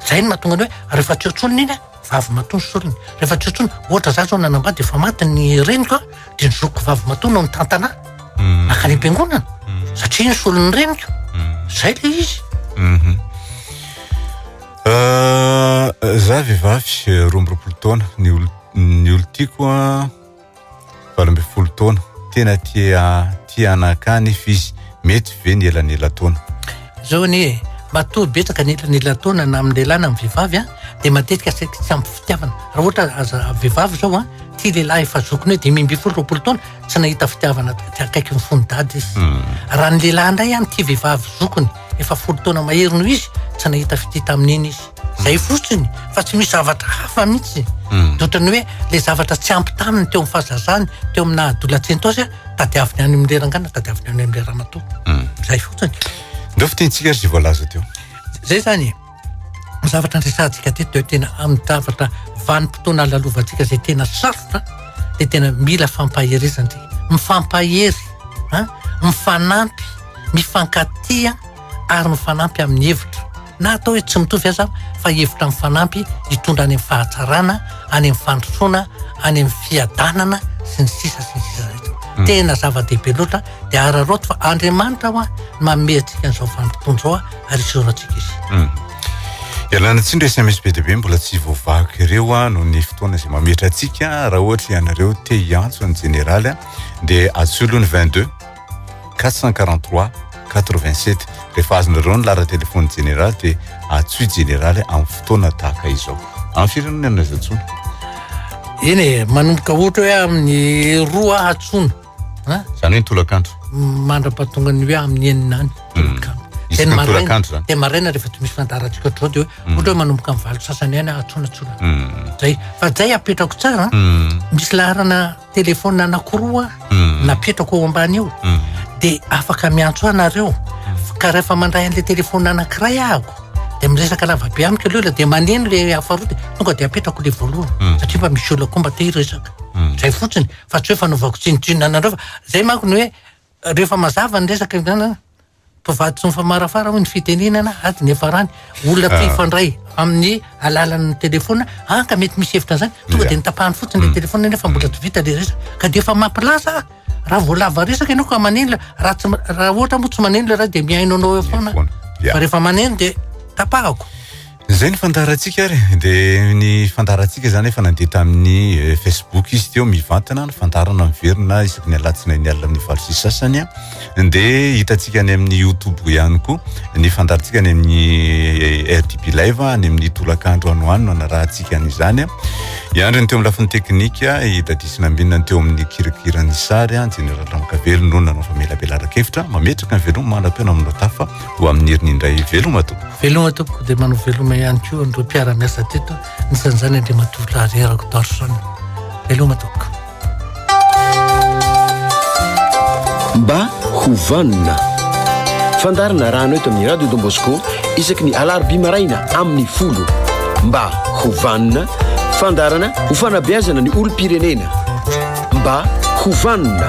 Zay no mahatonga ny hoe rehefa tsy eo tsony ny iny a, vavy matoa ny sorony. Rehefa tsy eo tsony, ohatra za zao nanambady efa maty ny reniko a, de ny zokiko vavy matoa no nitantana ahy nankany am-piangonana satria ny solon'ny reniko. Zay le izy. Za vehivavy roa amby roapolo taona, ny olo- ny olon-tiako a. valo ambin'ny folo taona tena tia tia anaka nefa izy mety ve ny elanelataona zao anie e matoa betsaka ny elanelataona na amin'ny lehilahy na amin'ny vehivavy a dia matetika saika tsy ampy fitiavana raha ohatra aza vehivavy zao a tia lehilahy efa zokiny hoe dimy ambin'ny folo roapolo taona tsy nahita fitiavana tsy akaiky ny fony dady izy hmm. raha ny lehilahy indray a ny tia vehivavy zokiny efa folo taona mahery noho izy tsy nahita fitia tamin'iny izy Zay fotsiny fa tsy misy zavatra hafa mihitsy hmm. otrany hoe le zavatra tsy ampy taminy teo am fazazany teo amina adolatsento azy tadiaviny any amle rangana tadiaviny any amle ramato hmm. zay fotsiny deo fitentsika ry voalaza teo zay zany e. zavatra andresantsika te teo tena am zavatra vanimpotoana alalovantsika zay tena sarotra de tena mila fampaherezantsika mifampahery mifanampy mifankatia ary mifanampy amin'ny hevitra, na atao hoe tsy mitovy aza, fa hevitra mifanampy hitondra any amin'ny fahatsarana, any amin'ny fandrosoana, any amin'ny fiadanana sy ny sisa sy ny sisa rehetra. Hmm. Tena zava-dehibe loatra dia araraoty fa Andriamanitra hoa no manome antsika an'izao vanim-potoana izao ary isehorantsika izy. Hmm. Ialana tsindry SMS be dia be mbola tsy voavaky ireo a noho ny fotoana izay mametra antsika raha ohatra ianareo te hiantso ny jeneraly dia atsolo ny 22 443 87 rehefa azonareo ny lara telefony jeneraly dia atsoy jeneraly amin'ny fotoana tahaka izao amin'ny firenena no aiza tsony eny e manomboka ohatra hoe amin'ny roa atsony zany hoe ny tolakandro mandra-pahatonga ny hoe amin'ny enina any hmm. tolakandro tolakandro zany dia maraina rehefa tsy misy fandaharantsika ohatrao dia hoe hmm. ohatra hoe manomboka amin'ny valo sasany any atsona tsona hmm. zay fa zay apetrako tsara misy laharana Telephone anakiroa napetrako eo ambany eo de afaka miantso ahy nareo ka rehefa mandray an'le telephone anakiray ahako de miresaka lavabe amiko aleo le de maneno le hafa roa de tonga de apetrako le voalohany satria mba misy olona koa mba te hiresaka zay fotsiny fa tsy hoe fanaovako tsinontsinona anareo fa zay manko ny hoe Rehefa mazava ny resaka indrana, mpivady tsy mifamarafara hoy ny fitenenana, ady niafarany. Olona ah. mpifandray amin'ny alalan'ny telefona, ah ka mety misy hevitra an'izany, tonga dia nitapahany fotsiny le mm. telefona nefa mbola tsy vita le resaka. Ka dia efa mampilaza ah. raha voalava resaka ianao ka manenla, raha tsy raha ohatra moa tsy manenla raha dia mihaino anao eo foana. Fa rehefa maneno dia tapahako. Izay ny fandaharantsika ary dia ny fandaharantsika izany efa nandeha tamin'ny eh, Facebook izy teo mivantana ny fandaharana miverina isaky ny alatsinainy alina amin'ny valo sy sasany dia hitantsika any amin'ny YouTube ihany koa ny fandaharantsika any amin'ny eh, RDB Live any amin'ny tolakandro ano ano anarahantsika an'izany iandry ny teo amin'ny lafiny teknika i Dadis Nambinina ny teo amin'ny kirakira ny sary Jeneraly Ramakavelo no nanao famelabelara-kevitra mametraka ny veloma manam-peo namono tafa Ho amin'ny heriny indray veloma tompoko. Veloma tompoko dia manao veloma ihany koa an'ireo mpiara-miasa teto nisan'izany Andriamatoa Rarerako Dorson. Veloma tompoko. Mba ho vanona. Fandarina rano eto amin'ny Radio Don Bosco isaky ny alarobia maraina amin'ny folo. Mba ho vanona, fandarana ho fanabeazana ny olom-pirenena. mba ho vanona.